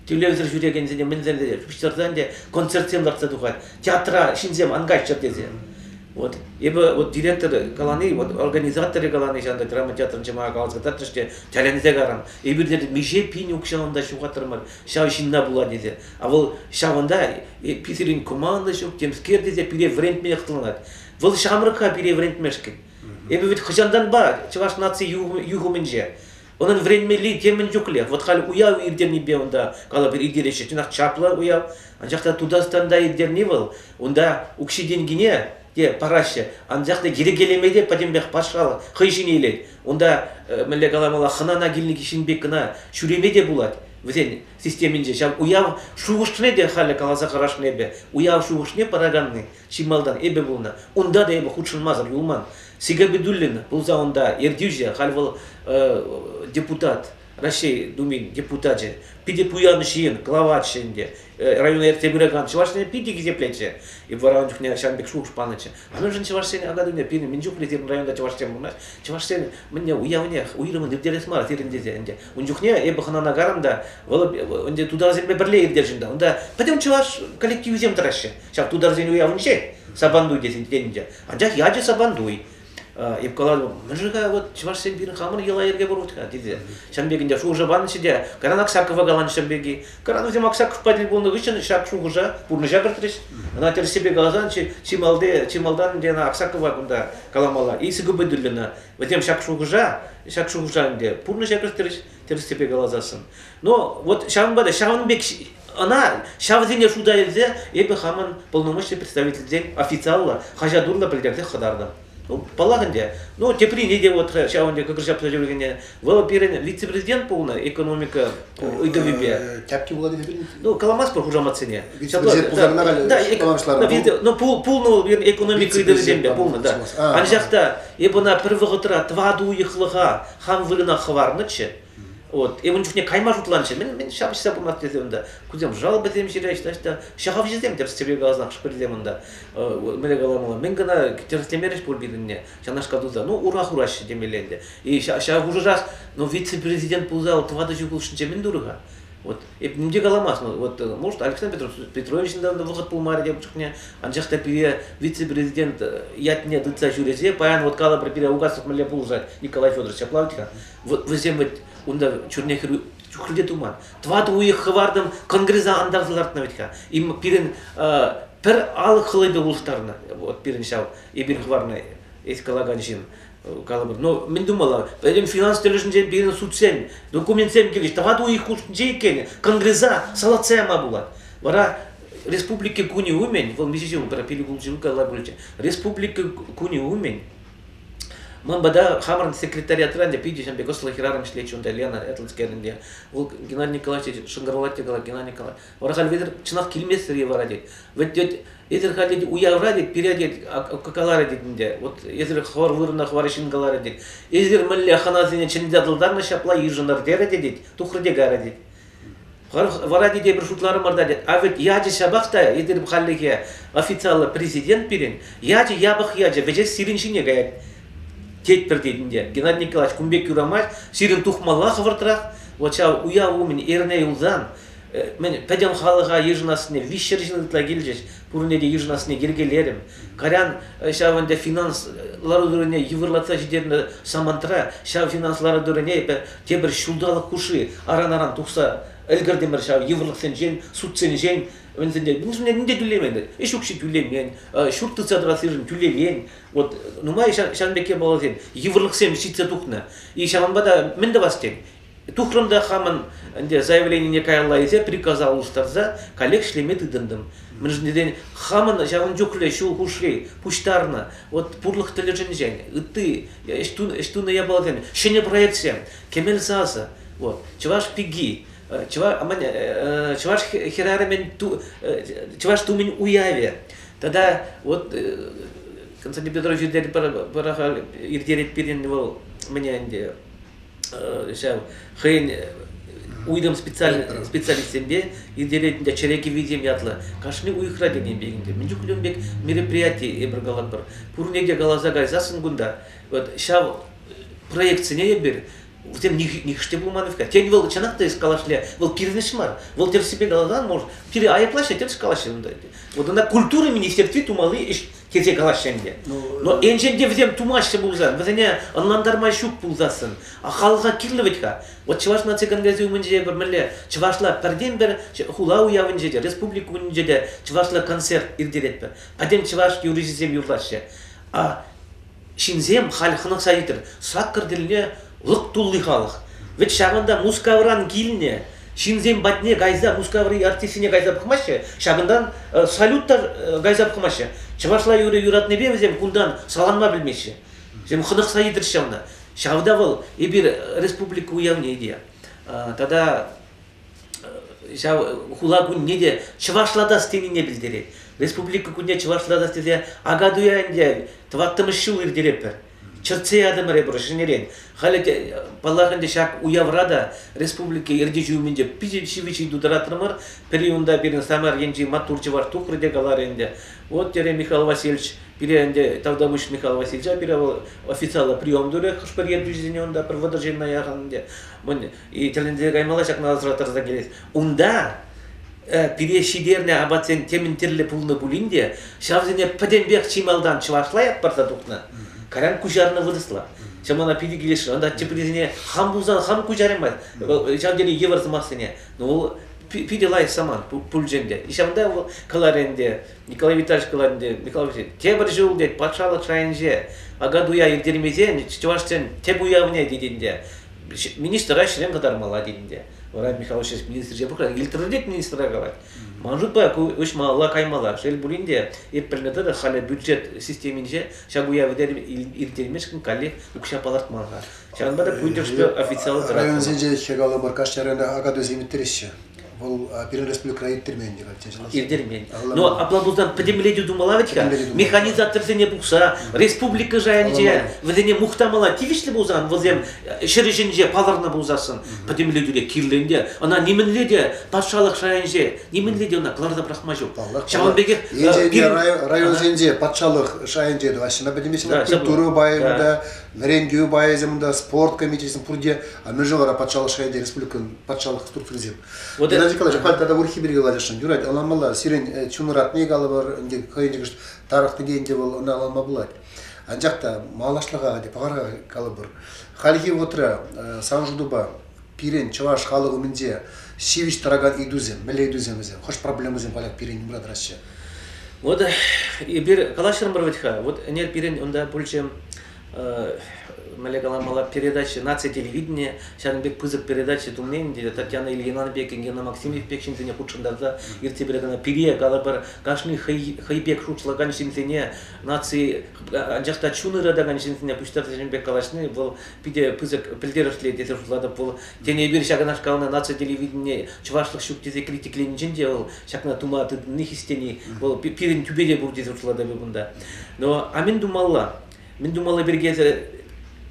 тӳлевсӗр ҫӳрекенсене мӗнсем тесе пуҫтарсан те концертсем лартса тухать театра ҫынсем ан кайччӑр тесе вот эпӗ вот директор калани вот организаторӗ калани ҫантӑк драма театрын чӑмака каласа кӑтартрӗҫ те тӗлӗнсе карам эпирте миҫе пин укҫаланта ҫухаттӑрмӑр ҫав ҫынна пула тесе а вӑл ҫавӑнта пи сирӗн команда ҫук темскер тесе пире вӗрентме хӑтланать вӑл ҫамрӑк-ха пире вӗрентмешкӗн эпӗ вӗт хӑҫантанпа чӑваш наци юхӑмӗнче Унӑн вӗренмелли темӗн чухлех. Вот халь уяв иртенипе унта калӑпӑр иртереҫҫӗ. Чӑнах чаплӑ уяв. Анчах та Тутарстанта иртерни вӑл унта укҫи-тенкине те параҫҫӗ. Анчах та йӗркелеме те пӗтӗмпех патшалӑх хӑй ҫине илет. Унта мӗнле каламалла хӑнана килнӗ ҫын пек кӑна ҫӳреме те пулать вӗсен системинче. Ҫав уяв шухӑшне те халӗ каласа карашнӑ эпӗ. Уяв шухӑшне параканни Чи малтан эпӗ пулнӑ. Унта та эпӗ хутшӑнмасӑр юлман. Сигабидуллин пулса унта ертӳҫӗ, халь вӑл депутат, Раҫҫей Думин депутачӗ, питӗ пуян ҫын, главач ӗнтӗ. Района ертсе пыракан чӑвашсене питӗ хисеплетчӗ. И вара ун чухне ҫавӑн пек шухӑш панӑччӗ. А мӗншӗн чӑвашсене ана тумне пирӗн мӗн чухлӗ сирӗн районта чӑвашсем пурӑнаҫ? Чӑвашсен мӗнне уявне, уйрӑмӑн иртерес мар сирӗн тесе ӗнтӗ. Ун чухне эпӗ хӑнана карӑм та, вӑл ӗнтӗ тутарсемпе пӗрле иртесшӗн та. Унта пӗтӗм чӑваш коллективӗсем тӑраҫҫӗ. Ҫак тутарсен уявӗнче Сабантуй тесе итленӗччӗ. Анчах ячӗ Сабантуй. Эп калатӑп, мӗн-ха вот чӑвашсем пирӗн хамӑр йӑла-йӗрке пурать-ха, тесе. Ҫын пекинче шухӑша панӑччӗ те, кайран Аксакова каланӑ ҫын пирки. Кайран вӗсем Аксаковпа тӗл пулнӑ хыҫҫӑн ҫак шухӑша, пурнӑҫа кӗртрӗҫ. Ӑна тӗрӗссипе каласан, чи, чи малти, чи малтан ӗнтӗ ӑна Аксакова кунта каламалла, Исига Быдуллина. Вӗсем ҫак шухӑша, ҫак шухӑша ӗнтӗ пурнӑҫа кӗртрӗҫ. тӗрӗссипе каласассӑн. Но вот ҫавӑнпа та ҫавӑн пек ӑна ҫавсене шута илсе эпӗ хамӑн полномочный представительсен официаллӑ хаҫат урлӑ пӗлтерсе хӑтартӑм. Ну, паллах ӗнтӗ. Ну, теприне те вот ҫавӑн пек кӑкӑр ҫапса ҫӳрекене. Вӑл пирӗн вице-президент пулнӑ экономика ыйтӑвӗпе. Тяпки вулатӑн пирӗн? Ну, каламастпӑр хушаматсене. Вице-президент пулсанна халь ну, пулнӑ вӑл пирӗн экономика ыйтӑвӗсемпе пулнӑ, да. Анчах та эп ӑна пӗр вӑхӑтра тӑватӑ уйӑхлӑха хан вырӑна хӑварнӑччӗ. Вот. И ун чухне кайма шутланчӗ. Мӗн, мӗн ҫапӑҫса пымасть тесе унта. Кусем жалобӑсем ҫырать, значит, ҫахавҫӑсем тӗп стрелкаласах шпырсем унта. Мӗне каламалла, мӗн кӑна тӗрӗслемерӗҫ пур пирӗнне ҫавнашкал туса. Ну, ура хураҫҫӗ темелле ӗнтӗ. И ҫав хушӑрах, ну, вице-президент пулса тӑватӑ ҫул хушшинче мӗн турӗ-ха? Вот Эп ним те каламасть. Вот, э, может, Александр Петрович ҫынтан вӑхӑт пулмарӗ те чухне, анчах та пире вице-президент э, ятне тытса ҫӳресе, паян вот калӑпӑр пире Угасов мӗнле пулӑшать Николай Федорович, ҫаплах-тха. Вот вӗсем вот унта чурне чухлӗте туман. Тӑватӑ уйӑх хӑвартӑм конгреса антарса лартнӑ вӗт-ха. Им пирӗн э, пӗр алӑк хӑлӑпе улӑштарнӑ. Вот пирӗн ҫав, эпир хӑварнӑ эс калакан ҫын. калӑпӑр, ну, мӗн тумалла? Пӗтӗм финанс тӗлӗшӗнчен пирӗн судсем, документсем килӗҫ. Тӑватӑ уйӑх хушшинче иккен, конгресса салатса яма пулать. Вара республика кунӗ умӗн, вӑл миҫе ҫул, пирӗн ҫул калла пулчӗ, республика кунӗ умӗн ман пата хамӑрӑн секретариатран те питӗ ҫын пек ӑслӑ хӗрарӑм ӗҫлетчӗ унта Лена Этлцкерӗн те. Вӑл Геннадий Николаевич шӑнкӑравлать те калать, Геннадий Николаевич, Вара халь вӗсӗр чӑнах килместӗр-и вара тет. Вӗт тет, эсир халь тет уявра тет, пире тет каларӗ тет ӗнтӗ. Вот эсир хӑвар вырӑна хӑвар ҫын каларӗ тет. Эсир мӗнле хӑнасене чӗнсе тултарнӑ ҫапла йышӑнӑр терӗ те тет, тухрӗ те карӗ тет. Вара тет эпир шутларӑмӑр та тет, а ведь ячӗ ҫапах та эсир халлӗхе официаллӑ президент пирӗн, ячӗ япӑх ячӗ вӗҫех сирӗн ҫине каять. Тетпӗр тет ӗнтӗ, Геннадий Николаевич кун пек юрамасть, сирӗн тухмалла хӑвӑртрах. Вот ҫав уяв умӗн эрне юлсан мӗн пӗтӗм халӑха йышӑнассине виҫҫӗр ҫын ытла килчӗҫ пурне те йышӑнассине йӗркелерӗм кайран ҫав ӗнтӗ финанс лару-тӑрӑвне йывӑрлатса ҫитернӗ самантра ҫав финанс лару-тӑрӑвне эпӗ тепӗр ҫулталӑк хушши аран-аран тухса ӗлкӗртӗмӗр ҫав йывӑрлӑхсенчен судсенчен вӗсенче вӗсене нимте тӳлемен ӗҫ укҫи тӳлемен ҫурт тытса тӑрассишӗн тӳлемен вот нумай ҫан пекки баласем йывӑрлӑхсем ҫитсе тухнӑ и ҫавӑнпа та мӗн тӑвас тен Тухрӑм та хамӑн ӗнтӗ заявленине каялла илсе приказа улӑштарса каллех ӗҫлеме тытӑнтӑм. Мӗншӗн хамӑн ҫавӑн чухлӗ ҫул хушри пуҫтарнӑ вот пурлӑх тӗлӗшӗнчен ытти ӗҫ тунӑ япаласем, ҫӗнӗ проектсем, кӗмел сасӑ, вот чӑваш пики, чӑваш хӗрарӑмӗн чӑваш тумӗн уявӗ тата вот Константин Петрович иртерет пирӗн вӑл мӗне ӗнтӗ ҫав хӑйӗн уйрӑм специалистсемпе иртеретӗн те чӗре кӗввисем ятлӑ кашни уйӑхра тенӗ пек ӗнтӗ мӗн чухлӗ ӗмпек мероприяти эпир калатпӑр пурне те каласа кайсассӑн кунта вот ҫав проектсене эпир вӗсем нихӑш те пулман-ҫке. Тен, вӑл чӑнах та эс калашле, вӑл кирпӗч мар, вӑл тӗрӗссипе каласан, может, пире айӑплаҫҫӗ, тӗрӗс калаҫҫӗ унта. Вот ӑна культура министерстви тумалли ӗҫ тесе калаҫҫӗ ӗнтӗ. Но енчен те вӗсем тумаҫҫӗ пулсан, вӗсене ӑнлантарма ҫук пулсассӑн, а халӑха кирлӗ вӗт-ха. Вот Чӑваш наци конгресӗ умӗнче эпир мӗнле чӑвашла пӗртен-пӗр хула уявӗнче те, республика умӗнче те чӑвашла концерт иртеретпӗр. Пӗтӗм чӑваш юрӑҫисем юрлаҫҫӗ. А ҫынсем халь хӑнӑхса ӳкрӗ. Саккӑр тӗлне лӑк тулли халӑх. Вӗт ҫавӑнта Мускавран килнӗ ҫынсем патне кайса Мускаври артистсене кайса пӑхмаҫҫӗ, ҫакӑнтан э, салют та э, кайса пӑхмаҫҫӗ. Чӑвашла юрӑ юратнипе вӗсем кунтан саланма пӗлмеҫҫӗ. Вӗсем хӑнӑхса ӳкрӗҫ ҫавна. Ҫавӑнта вӑл эпир республика уявне те. Тата ҫав хула кунне те чӑвашлатас тенине пӗлтерет. Республика кунне чӑвашлатас тесе акатуя ӗнтӗ тӑваттӑмӗш ҫул иртереппӗр. Чӗртсе ятӑмӑр эпир ҫӗнӗрен. Халӗ те, паллах ӗнтӗ, ҫак уявра та республика ертӳҫи умӗнче питӗ ҫивӗч ыйту тӑратрӑмӑр. Пӗри унта пирӗн Самар енчи маттур чӑваш тухрӗ те каларӗ ӗнтӗ. Вот терӗ Михаил Васильевич, пире ӗнтӗ Тавтапуҫ Михаил Васильевича пире вӑл официаллӑ прием турӗ хӑш-пӗр ертӳҫӗсене унта пӗр вӑтӑр ҫынна яхӑн ӗнтӗ. И тӗлӗнсе каймалла ҫакна асра тӑрса килес. Унта э, пире ҫитернӗ апатсен темӗн тӗрлӗ пулнӑ пулин те, ҫавсене пӗтӗмпех чи малтан чӑвашла ятпарса тухнӑ, каран куҫарнӑ вырӑсла. Ҫав мана питӗ килӗшрӗ. Ӑнта теприсене хам пулсан хам куҫараймасть. Вӑл ҫав тери йывӑр сӑмахсене. Ну, вӑл пи- питӗ лайӑх самант пу- пулчӗ ӗнтӗ. Ҫавӑнта вӑл каларӗ ӗнтӗ, Николай Витальевич калать ӗнтӗ, Николай Витальевич, тепӗр ҫул, тет, патшалӑх шайӗнче Акатуя ирттермесен чӑвашсен тӗп уявне, тет ӗнтӗ, министра ӗҫрен кӑтармалла тейӗн те. Вара Михаил Васильевич министрҫе пӑхран, илтрӗнет министра калать. Ман шутпа ку уҫмалла каймалла. Шел пулин те, эп пӗлнӗ тӑрӑх халӗ бюджет системинче ҫак уявӗ ирттермешкӗн каллех укҫа палӑртман-ха. Ҫавӑнпа та пӳнтӗршкӗ официаллӑ тӑрать. Районсенче ӗҫе калӑпӑр каҫ аренда акатуйсем ирттереҫҫӗ. Вӑл пирӗн республикӑра ирттермен те калча Иртермен. Но апла пулсан пӗтӗмлетӳ тумалла вӗт-ха. Механизаторсене пухса республика шайӗнче вӗсене мухтамалла тивӗҫлӗ пулсан вӗсем ҫӗр ӗҫӗнче палӑрнӑ пулсассӑн пӗтӗмлетӳре кирлӗ ӗнтӗ. Ӑна нимӗнле те патшалӑх шайӗнче нимӗнле те ӑна кӑларса пӑрахма ҫук. Ҫавӑн пекех районсенче патшалӑх шайӗнче тӑваҫҫӗ культура пайӗ та вӗрентӳ пайӗсем та, спорт комитечӗсем пурте, а мӗншӗн вара патшалӑх шайӗнче республикӑн патшалӑх структурисем. Вот Геннадий Николаевич, халь тата урхи пирки калаҫасшӑн. Юрать, ӑнланмалла. Сирӗн чунӑратни калӑпӑр, ӗнтӗ хӑйӗнче тарӑхнипе ӗнтӗ вӑл ӑнланма пулать. Анчах та малашлӑха, пахалӑха калӑпӑр. Хальхи вӑхӑтра сан шутупа пирӗн чӑваш халӑх умӗнче ҫивӗч тӑракан ыйтусем, мӗнле ыйтусем вӗсем, хӑш проблемӑсем поляк пирӗн умра тӑраҫҫӗ? Вот эпир калаҫрӑмӑр вӗт-ха, вот ӗнер пирӗн унта пулчӗ мӗнле каламалла передача наци телевидения ҫакӑн пек пысӑк передача тумне ӗнтӗ Татьяна Ильинанбекӑн Гена Максимов пек ҫынсене хутшӑнтарса иртсе пыракана пире калӑпӑр кашни хӑй, хӑй пек шутлакан ҫынсене наци анчах та чун ыратакан ҫынсене пуҫтарса ҫын пек калаҫни вӑл питӗ пысӑк пӗлтерӗшлӗ тесе шутлатӑп вӑл. Тен, эпир ҫакнашкал наци телевиденине чӑвашлӑх ҫук тесе критикленинчен те вӑл ҫакна тума тытӑнни хистени вӑл пирӗн тӳпете пур тесе шутлатӑп эп унта. Но а мӗн тумалла? Мӗн тумалла пирки эсӗ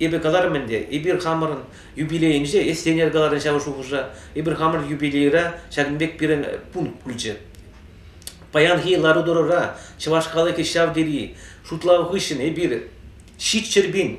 эпӗ каларӑм ӗнтӗ, эпир хамӑрӑн юбилейӗнче, эс Сенер каларӑн ҫав шухӑша, эпир хамӑрӑн юбилейра ҫакӑн пек пирӗн пункт пулчӗ. Паянхи лару-тӑрура чӑваш халӑхӗ ҫав тери шутлав хыҫҫӑн эпир ҫиччӗр пин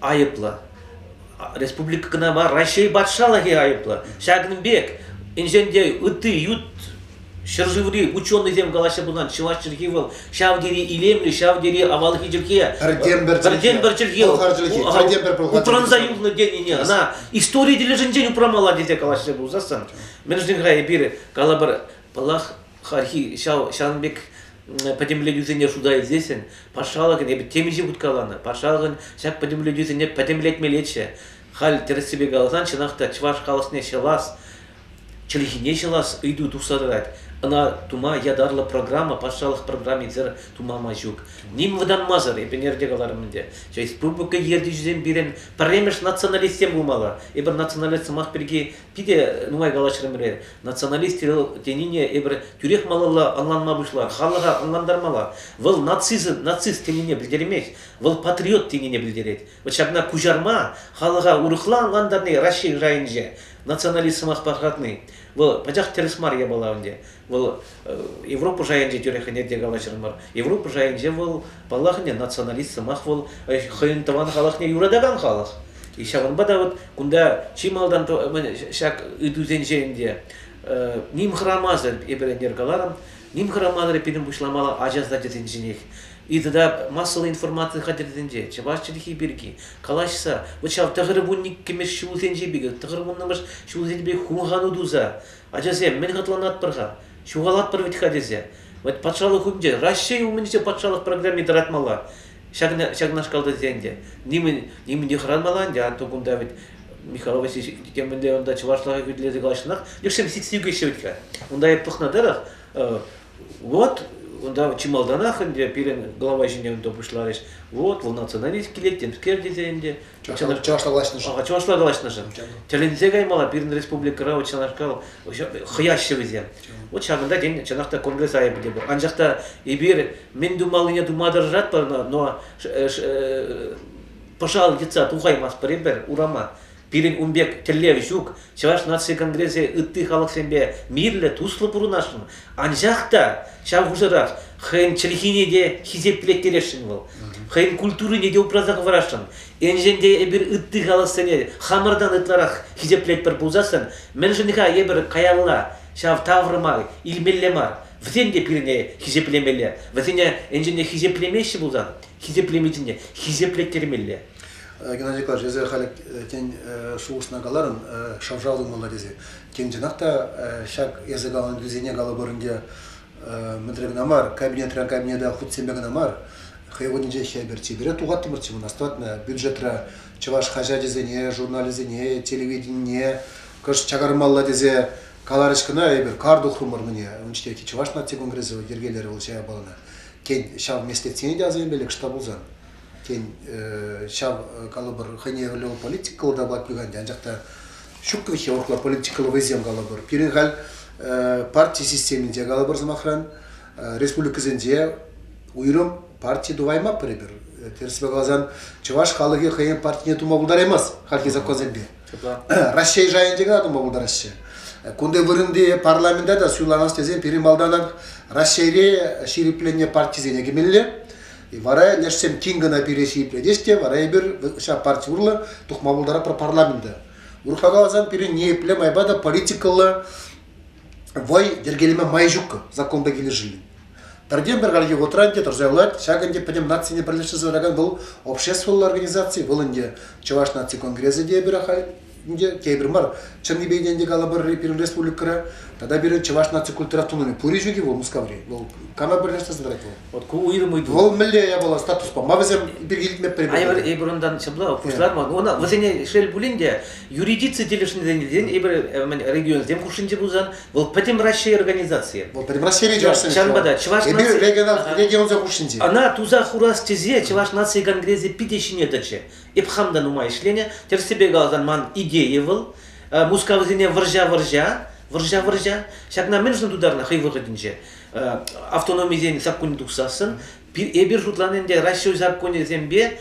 айӑплӑ. Республика кӑна мар, Раҫҫей патшалӑхӗ айӑплӑ. Ҫакӑн пек инҫен те ытти ют ҫӗршыври ученӑйсем калаҫса пынӑ чӑваш чӗлхи вӑл ҫав тери илемлӗ, ҫав тери авалхи чӗлхе. Пӗртен-пӗр чӗлхе. пӗр чӗлхе. Пӑлхар чӗлхи. Пӗртен-пӗр пӑлхар Упранса юлнӑ тенине ӑна истори тӗлӗшӗнчен упрамалла тесе калаҫса пулсассӑн, мӗншӗн-ха эпир калӑпӑр, паллах, хайхи ҫав ҫавӑн пек пӗтӗмлетӳсене шута илсессӗн патшалӑхӑн эпӗ темиҫе хускаланӑ патшалӑхӑн ҫак пӗтӗмлетӳсене пӗтӗмлетмеллеччӗ халь тӗрӗссипе каласан чӑнах та чӑваш халӑхне ҫӑлас чӗлхине ҫӑлас ыйту тухса тӑрать ӑна тума ятарлӑ программа патшалӑх программисӗр тумама ҫук ним вӑтанмасӑр эп ӗнерте каларӑм ӗнтӗ республика ертӳҫисем пирӗн пӗрремӗш националистсем пулмалла эпир националист сӑмах пирки Питӗ нумай калаҫрӑмӑр, националист тенине эпир тӳрех малалла ӑнланма пуҫлар, халӑха ӑнлантармалла. Вӑл нацизм, нацист тенине пӗлтермест, вӑл патриот тенине пӗлтерет. Вот ҫакна куҫарма халӑха урӑхла ӑнлантарни Раҫҫей шайӗнче националист сӑмах пархатни. Вӑл пачах тӗрӗс мар япала ӗнтӗ. Вӑл Европа шайӗнче тӳрех ӗне те калаҫрӑмӑр. Европа шайӗнче вӑл, паллах, ӗне националист сӑмах, вӑл хӑйӗн тӑван халӑхне юратакан халӑх. И ҫавӑнпа та вот кунта чи малтан ҫак ыйтусенчен те ним хӑрамасӑр эпир ӗнер каларӑм, ним хӑрамасӑр пирӗн пуҫламалла ача сачӗсен ҫинех. И тата массӑллӑ информаци хатӗрсенче, чӑваш чӗлхи пирки калаҫса, вот ҫав тӑхӑрвунниккӗмӗш ҫулсенче пек, тӑхӑрвуннӑмӗш ҫулсенче пек хумхану туса Ачасем, мӗн хӑтланатпӑр-ха? Ҫухалатпӑр вӗт-ха тесе. Вӑт патшалӑх умӗнче, Раҫҫей умӗнче патшалӑх программи тӑратмалла. Ҫакнашкал тесе ӗнтӗ. Нимӗн, нимӗн те хӑранмалла ӗнтӗ. Антон кунта вӗт Михаил Васильевич темӗнле унта чӑвашлӑха хӳтӗлесе калаҫсанах лешсем сиксе ӳкеҫҫӗ вӗт-ха. Унта эп пӑхнӑ тӑрӑх, вот унта чи малтанах ӗнтӗ пирӗн глава ҫине унта пуҫларӗҫ. Вот вӑл националист килет темскер тесе ӗнтӗ. Чӑнах чӑвашла калаҫнӑшӑн. А чӑвашла калаҫнӑшӑн. Тӗлӗнсе каймалла пирӗн республикӑра вот чӑнашкал хӑяҫҫӗ вӗсем. Вот ҫакӑнта тен чӑнах та конгресс айӑпӗ те пур. Анчах та эпир мӗн тумаллине тума тӑрӑшатпӑр, но пӑшал йӑтса тухаймастпӑр эпир урама. Пирӗн ун пек тӗллев ҫук. Чӑваш наци конгресӗ ытти халӑхсемпе мирлӗ, туслӑ пурӑнасшӑн. Анчах та ҫав хушӑрах хӑйӗн чӗлхине те хисеплеттересшӗн вӑл. Хӑйӗн культурине те упраса хӑварасшӑн. Енчен те эпир ытти халӑхсене хамӑртан ытларах хисеплетпӗр пулсассӑн, мӗншӗн-ха эпир каялла ҫав таврӑма илмелле мар? Вӗсем те пирӗне хисеплемелле. Вӗсене енчен те хисеплемеҫҫӗ пулсан, хисеплеме ҫине хисеплеттермелле. Геннадий Николаевич, эсир халӗ тен шухӑшна каларӑн, шав-шав тумалла тесе. Тен, чӑнах та ҫак эсӗ каланӑ тӗлсене калӑпӑр ӗнтӗ, мӗнре кӑна мар, кабинетра кабинета хутсемпе кӑна мар, хӑй кунӗнче ҫӗпӗр чипере тухаттӑмӑрччӗ мӑн астӑватна. Бюджетра чӑваш хаҫачӗсене, журналӗсене, телевиденине кӑшт чакармалла тесе каларӗҫ кӑна эпир, кар тухрӑмӑр мӗне. Ун чухнехи Чӑваш наци конгресӗ йӗркелерӗ вӑл ҫая палӑрнӑ. Тен, ҫав меслетсене те асӑнӗ пек штаб пулсан? Тен, ҫав калӑпӑр хӑйне вӗлле политикӑллӑ та пат пӳхенде, анчах та ҫуккӑвиҫе урӑхла политикӑллӑ вӑйсем калӑпӑр. Пирӗн халь парти системинче калӑпӑр сӑмахран республикӑсенче уйрӑм парти тупаймаппӑр эпир. Терсипе каласан, чӑваш халӑхӗ хӑйен партине тума пултараймасть хальхи законсемпе. Раҫҫей шайӗнче кӑна тума пултараҫҫӗ. Кунти вырӑнти парламента та суйланас тесен пирӗн малтанах Раҫҫейре ҫирӗпленнӗ партисене кӗмелле. Вара лешсем тин кӑна пире ҫиплетес те, вара эпир ҫав парти урлӑ тухма пултаратпӑр парламента. Урӑхла каласан, пирӗн ниепле майпа та политикӑлла вӑй йӗркелеме май ҫук законпа килӗшӳллӗн. Пӗртен-пӗр каллӗхе вӑхӑтра ӗнтӗ тӑрса юлать, ҫак ӗнтӗ пӗтӗм нацине пӗрлештерсе тӑракан вӑл обществӑлла организаци, вӑл ӗнтӗ Чӑваш наци конгресӗ те эпир Ӗнтӗ тепӗр мар. Чӑннипе ӗнтӗ калӑпӑр пирӗн республикӑра тата пирӗн чӑваш наци культуратунине пури ҫук-и вӑл Мускаври? Вӑл кама пӗрлештерсе тӑрать вӑл? Вот ку уйрӑм ыйту. Вӑл мӗнле япала статуспа? Ма вӗсем пирки илтмеппӗр? Айбыр эпир унтан ҫапла пуҫларман. Она вӗсене шел пулин те юридици тӗлӗшнӗтен эпир регионсем хушшинче пулсан вӑл пӗтӗм Раҫҫей организацийӗ. Вӑл пӗтӗм Раҫҫейри чӑваш ҫавӑнпа та чӑваш наци регионсен хушшинче. Ӑна туса хурас тесе Чӑваш наци конгресӗ питӗ ҫине тӑчӗ. Эп хам та нумай ӗҫленӗ. Тӗрӗссипе каласан, ман идея вӑл Мускавсене вӑрҫа-вӑрҫа, вӑрҫа-вӑрҫа. Ҫакна мӗн шун тутарнӑ хӑй вӑхӑтӗнче автономисен саккунӗ тухсассӑн эпир шутланӑ ӗнтӗ Раҫҫей саккунӗсемпе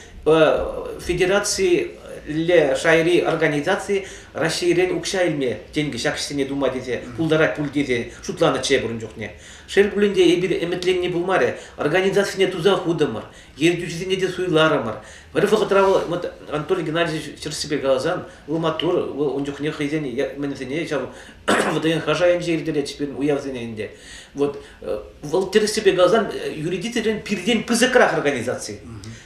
федерацилле шайри организаци Раҫҫейрен укҫа илме тенкӗ ҫак ӗҫсене тума тесе пултарать пуль тесе шутланӑччӗ эпир ун чухне. Шел пулин те, эпир ӗмӗтленни пулмарӗ, организацине туса хутӑмӑр. ентӳҫӗсене те суйларӑмӑр. Пӗр вӑхӑтра вӑл вот Анатолий Геннадьевич чӑрӑшсемпе каласан, вӑл маттур, вӑл ун чухне хӑйсен мӗнсене ҫав ВДНХ шайӗнче ирттеретчӗҫ пирӗн уявсене ӗнтӗ. Вот вӑл тӗрӗссипе каласан юридицирен пиртен пысӑкрах организаци.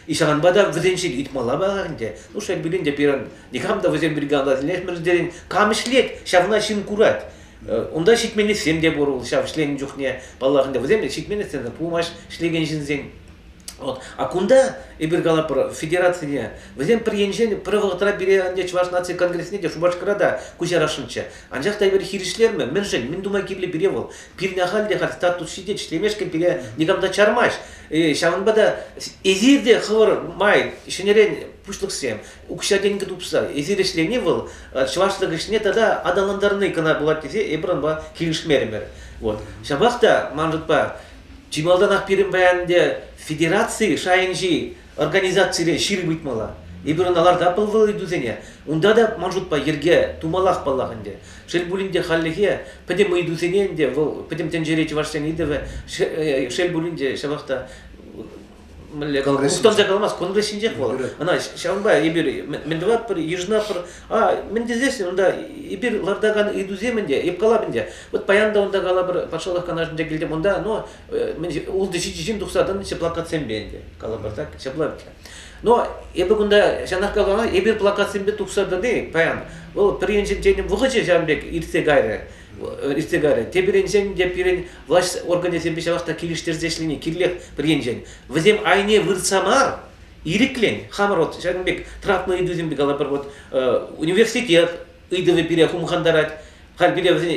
И ҫавӑнпа та вӗсенчен ыйтмалла мар ӗнтӗ. Ну, шел пулин те, пирӗн никам та вӗсем пирки ӑнланмасӑр кам ӗҫлет, ҫавна ҫын курать. Унта ҫитменлӗхсем те пур ҫав ӗҫленӗ чухне, паллах, ӗнтӗ вӗсем ҫитменлӗхсем пулмасть ӗҫлекен ҫынсен. Вот. А кунта, эпир калап федерацине, вӗсем пӗр енчен пӗр вӑхӑтра пире ӗнтӗ Чӑваш наци конгресне те Шупашкара та куҫарасшӑнччӗ. Анчах та эпир хирӗҫлермӗ, мӗншӗн, мӗн тума кирлӗ пире вӑл? Пирне халь те халь статус ҫитет, ӗҫлемешкӗн пире никам та чармасть. Ҫавӑнпа та эсир те хӑвӑр май ҫӗнӗрен пуҫлӑхсем, укҫа-тенкӗ тупса эсир ӗҫлени вӑл чӑваш тӑкӑшне тата аталантарни кӑна пулать тесе эпир унпа килӗшмерӗмӗр. Вот. Ҫапах та, ман шутпа, чи малтанах пирӗн паян ӗнтӗ федераци шайӗнчи организацире ҫирӗп ыйтмалла. Эпир ӑна ларта пӑлвал ыйтусене. Унта та, ман шутпа, йӗрке тумаллах паллах ӗнтӗ. Шел пулин те хальлӗхе пӗтӗм ыйтусене ӗнтӗ вӑл пӗтӗм тӗнчере чӑвашсен ыйтӑвӗ шел пулин те ҫапах та мӗнле унтанча каламасть кунри ҫинчех вӑл ӑна ҫавӑнпа эпир мӗн тӑватпӑр йышӑнатпӑр а мӗн тесессӗн унта эпир лартакан ыйтусем ӗнтӗ эп калап ӗнтӗ вот паян та унта калапӑр патшалӑх канашӗнче килтӗм унта ну ултӑ ҫичӗ ҫын тухса тӑнӑ ҫӗ плакатсемпе ӗнтӗ калапӑр так ҫапла ӗнтӗ но эпӗ кунта ҫанах калама эпир плакатсемпе тухса тӑни паян вӑл пӗринчен тенӗ вӑхӑчӗ ҫавӑн пек иртсе кайрӗ иртсе кайрӗ. Те пирӗншен, те пирӗн влаҫ органӗсемпе ҫавах та килӗштерсе ӗҫлени кирлех пӗр енчен. Вӗсем айне выртса мар, ирӗклӗн хамӑр вот ҫакӑн пек травма ыйтусемпе калӑпӑр вот университет ыйтӑвӗ пире хумхантарать. Халь пире вӗсен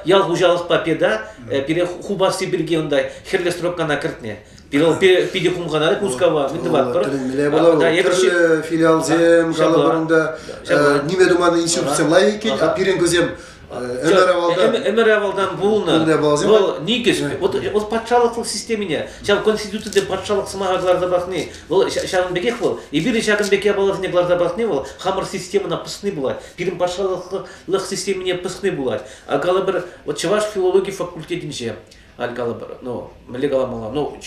ял хуҫалӑхпа педа пире хупасси пирки унта хӗрлӗ стропкана кӗртнӗ. Пирол питӗ хумханать Мускава, мӗн тӑватпӑр. Тӗлӗнмелле пулӑ. Филиалсем, калӑпӑр, ниме туман институтсем лайӑх иккен. Пирӗн кусем ӗмӗр авалтан ӗмӗр авалтан пулнӑ вӑл никӗс вот вот патшалӑхлӑх системине ҫав конституцие патшалӑх сӑмаха кӑларса пӑхни вӑл ҫавӑн пекех вӑл эпир ҫакӑн пек япаласене кӑларса пӑхни вӑл хамӑр системӑна пӑсни пулать пирӗн патшалӑхлӑх системине пӑсни пулать а калӑпӑр вот чӑваш филологи факультетӗнче Ан калӑпӑр, ну, мӗнле каламалла, ну,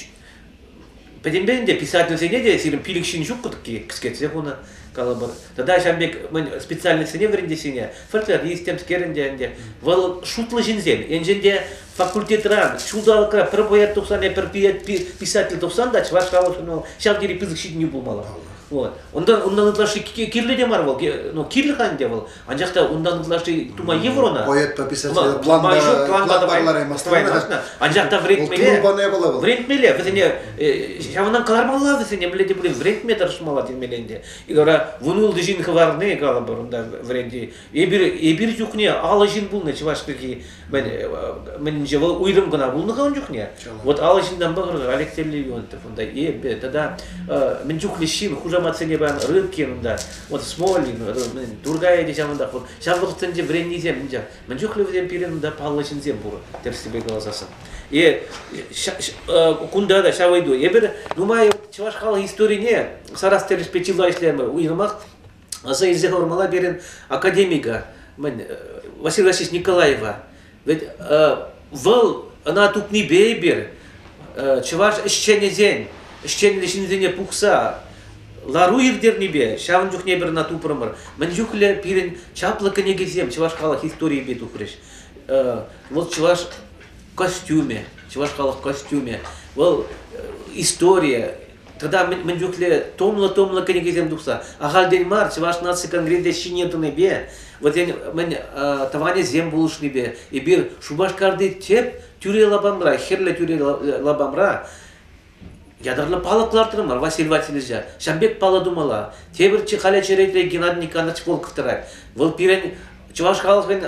пӗтӗмпе ӗнтӗ писательсене те сирӗн пилӗк ҫын ҫуккӑ-тӑк кӗскетсе хунӑ, калӑпӑр. Тата ҫав пек мӗн специальноҫсене вӗрентессине фольклорист темскер ӗнтӗ ӗнтӗ. Вӑл шутлӑ ҫынсем. Енчен те факультетран, ҫулталӑкра пӗр поэт тухсан, пӗр писатель тухсан та чӑваш халӑхшӑн вӑл ҫав тери пысӑк ҫитӗнӳ пулмалла. Вот. Унтан унтан ытлашши кирлӗ те мар вӑл. Ну, кирлӗ-ха ӗнтӗ вӑл. Анчах та унтан ытлашши тума йывӑр ӑна. Поэтпа писатель планпа ҫук, планпа давай, давай, анчах та вӗрентмелле, вӗрентмелле, вӗсене ҫавӑнтан кӑлармалла вӗсене мӗнле те пулин вӗрентме тӑрӑшмалла темелле ӗнтӗ. И вара вун ултӑ ҫын хӑварни, калӑпӑр, унта вӗренти. Эпир эпир чухне алӑ ҫын пулнӑ чӑваш пирки мӗнше вӑл уйрӑм кӑна пулнӑ-ха ун чухне вот алӑ ҫыннанпа кӑркӑр Олег Терлегионтов унта эпӗ тата мӗн чухлӗ ҫын хушаматсене паян рыбкин унта вот смолин тургай те ҫавӑнтах вот ҫав вӑхӑтсенче вӗреннисем мӗн чухлӗ вӗсем пирӗн унта паллӑ ҫынсем пур тӗрӗслевпе каласассӑн и кунта та ҫав ыйту эпир нумай чӑваш халӑх историне сарас тӗлӗшпе чылай ӗҫлерӗмӗр уйрӑмах Аса илсе хӑвармалла пирӗн академика, мӗн, Василий Васильевич Николаева. Ведь вӑл ӑна тупнипе эпир чӑваш ӗҫченӗсен, ӗҫченлӗ ҫынсене пухса лару ирттернипе ҫавӑн чухне пир ӑна тупрӑмӑр. Мӗн чухлӗ пирӗн чаплӑ кӗнекесем чӑваш халӑх историйӗпе тухрӗҫ. Вӑл чӑваш костюмӗ, чӑваш халӑх костюмӗ, вӑл история, Тата мӗн чухлӗ тумлӑ-тумлӑ кӗнекесем тухса. Ахальтен мар Чӑваш наци конгресӗ ҫине тӑнипе, вӗсен мӗн тӑванӗсем пулӑшнипе эпир Шупашкарти тӗп тӳре лапамра, хӗрлӗ тӳре лапамра ятарлӑ палӑк лартрӑмӑр Василий Васильевича. Ҫан пек паллӑ тумалла. Тепӗр халӗ черетре Геннадий Николаевич Волков тӑрать. Вӑл пирӗн чӑваш халӑхӗн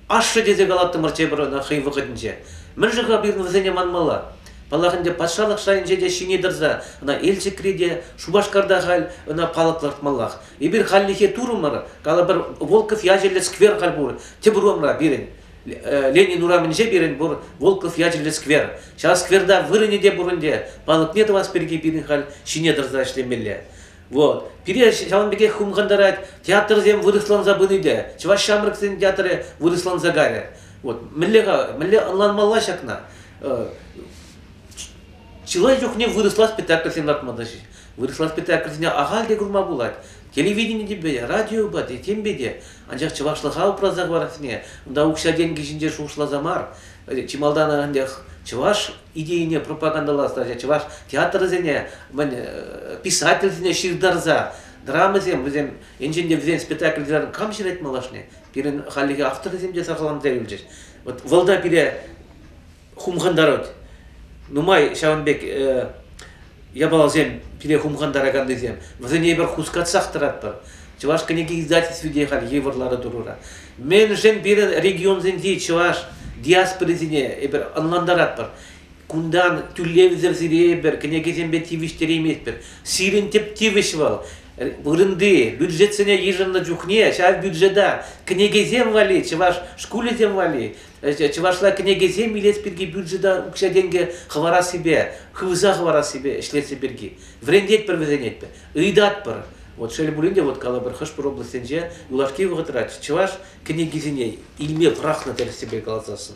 Ашшӗ тесе калаттӑмӑр тепӗр ӑна хӑй вӑхӑтӗнче. Мӗн-ши-ха пирӗн вӗсене манмалла? Паллах ӗнтӗ, патшалӑх шайӗнче те ҫине тӑрса ӑна Елчӗкри те, Шупашкарта халь ӑна палӑк лартмаллах. Эпир хальлӗхе турӑмӑр, калӑпӑр, Волков ячӗллӗ сквер халь пур тӗп урамра пирӗн. Ленин урамӗнче пирӗн пур Волков ячӗллӗ сквер. Ҫав скверта вырӑнӗ те пур ӗнтӗ, палӑкне тӑвас пирки пирӗн халь ҫине тӑрса ӗҫлемелле. Вот. Пире ҫавӑн пекех хумхантарать, театрсем вырӑсланса пыни те, чӑваш ҫамрӑксен театрӗ вырӑсланса кайрӗ. Вот. Мӗнле-ха, мӗнле ӑнланмалла ҫакна? Чылай чухне вырӑсла спектакльсем лартма та ҫеҫ. Вырӑсла спектакльсене ахаль те курма пулать. Телевиденипе, радиопа те, темпе те. Анчах чӑвашлӑха упраса хӑварасне, унта укҫа-тенкӗ ҫинче шухӑшласа мар. Чи малтан ӗнтӗ чӑваш идейине пропагандӑлас чӑваш театрӗсене, мӗн, э, писательсене ҫыртарса драмӑсем вӗсем енчен те вӗсен спектакльсем кам ҫырать малашне пирӗн хальлӗхе авторӗсем те сарсаланса юлчӗҫ вот вӑл пире хумхантарать нумай ҫавӑн пек э, япаласем пире хумхантараканнисем, вӗсене эпир хускатсах тӑратпӑр. Чӑваш кӗнеке издательстви те халь йывӑр лару тӑрура. Мӗншӗн пирӗн регионсенчи чӑваш диаспорисене эпир ӑнлантаратпӑр? Кунтан тӳлевсӗр сире эпир кӗнекесемпе тивӗҫтерейместпӗр. Сирӗн тӗп тивӗҫ вӑл вырӑнти бюджетсене йышӑннӑ чухне ҫав бюджета кӗнекесем валли, чӑваш шкулӗсем валли чӑвашла кӗнекесем илес пирки бюджета укҫа-тенкӗ хӑварассипе, хывса хӑварассипе ӗҫлесси пирки вӗрентетпӗр вӗсенетпӗр, ыйтатпӑр. Вот шел пулин те, вот калӑпӑр, хӑш-пӗр облаҫсенче юлашки вӑхӑтра чӑваш кӗнекисене илме пӑрахнӑ тӗрӗссипе каласассӑн.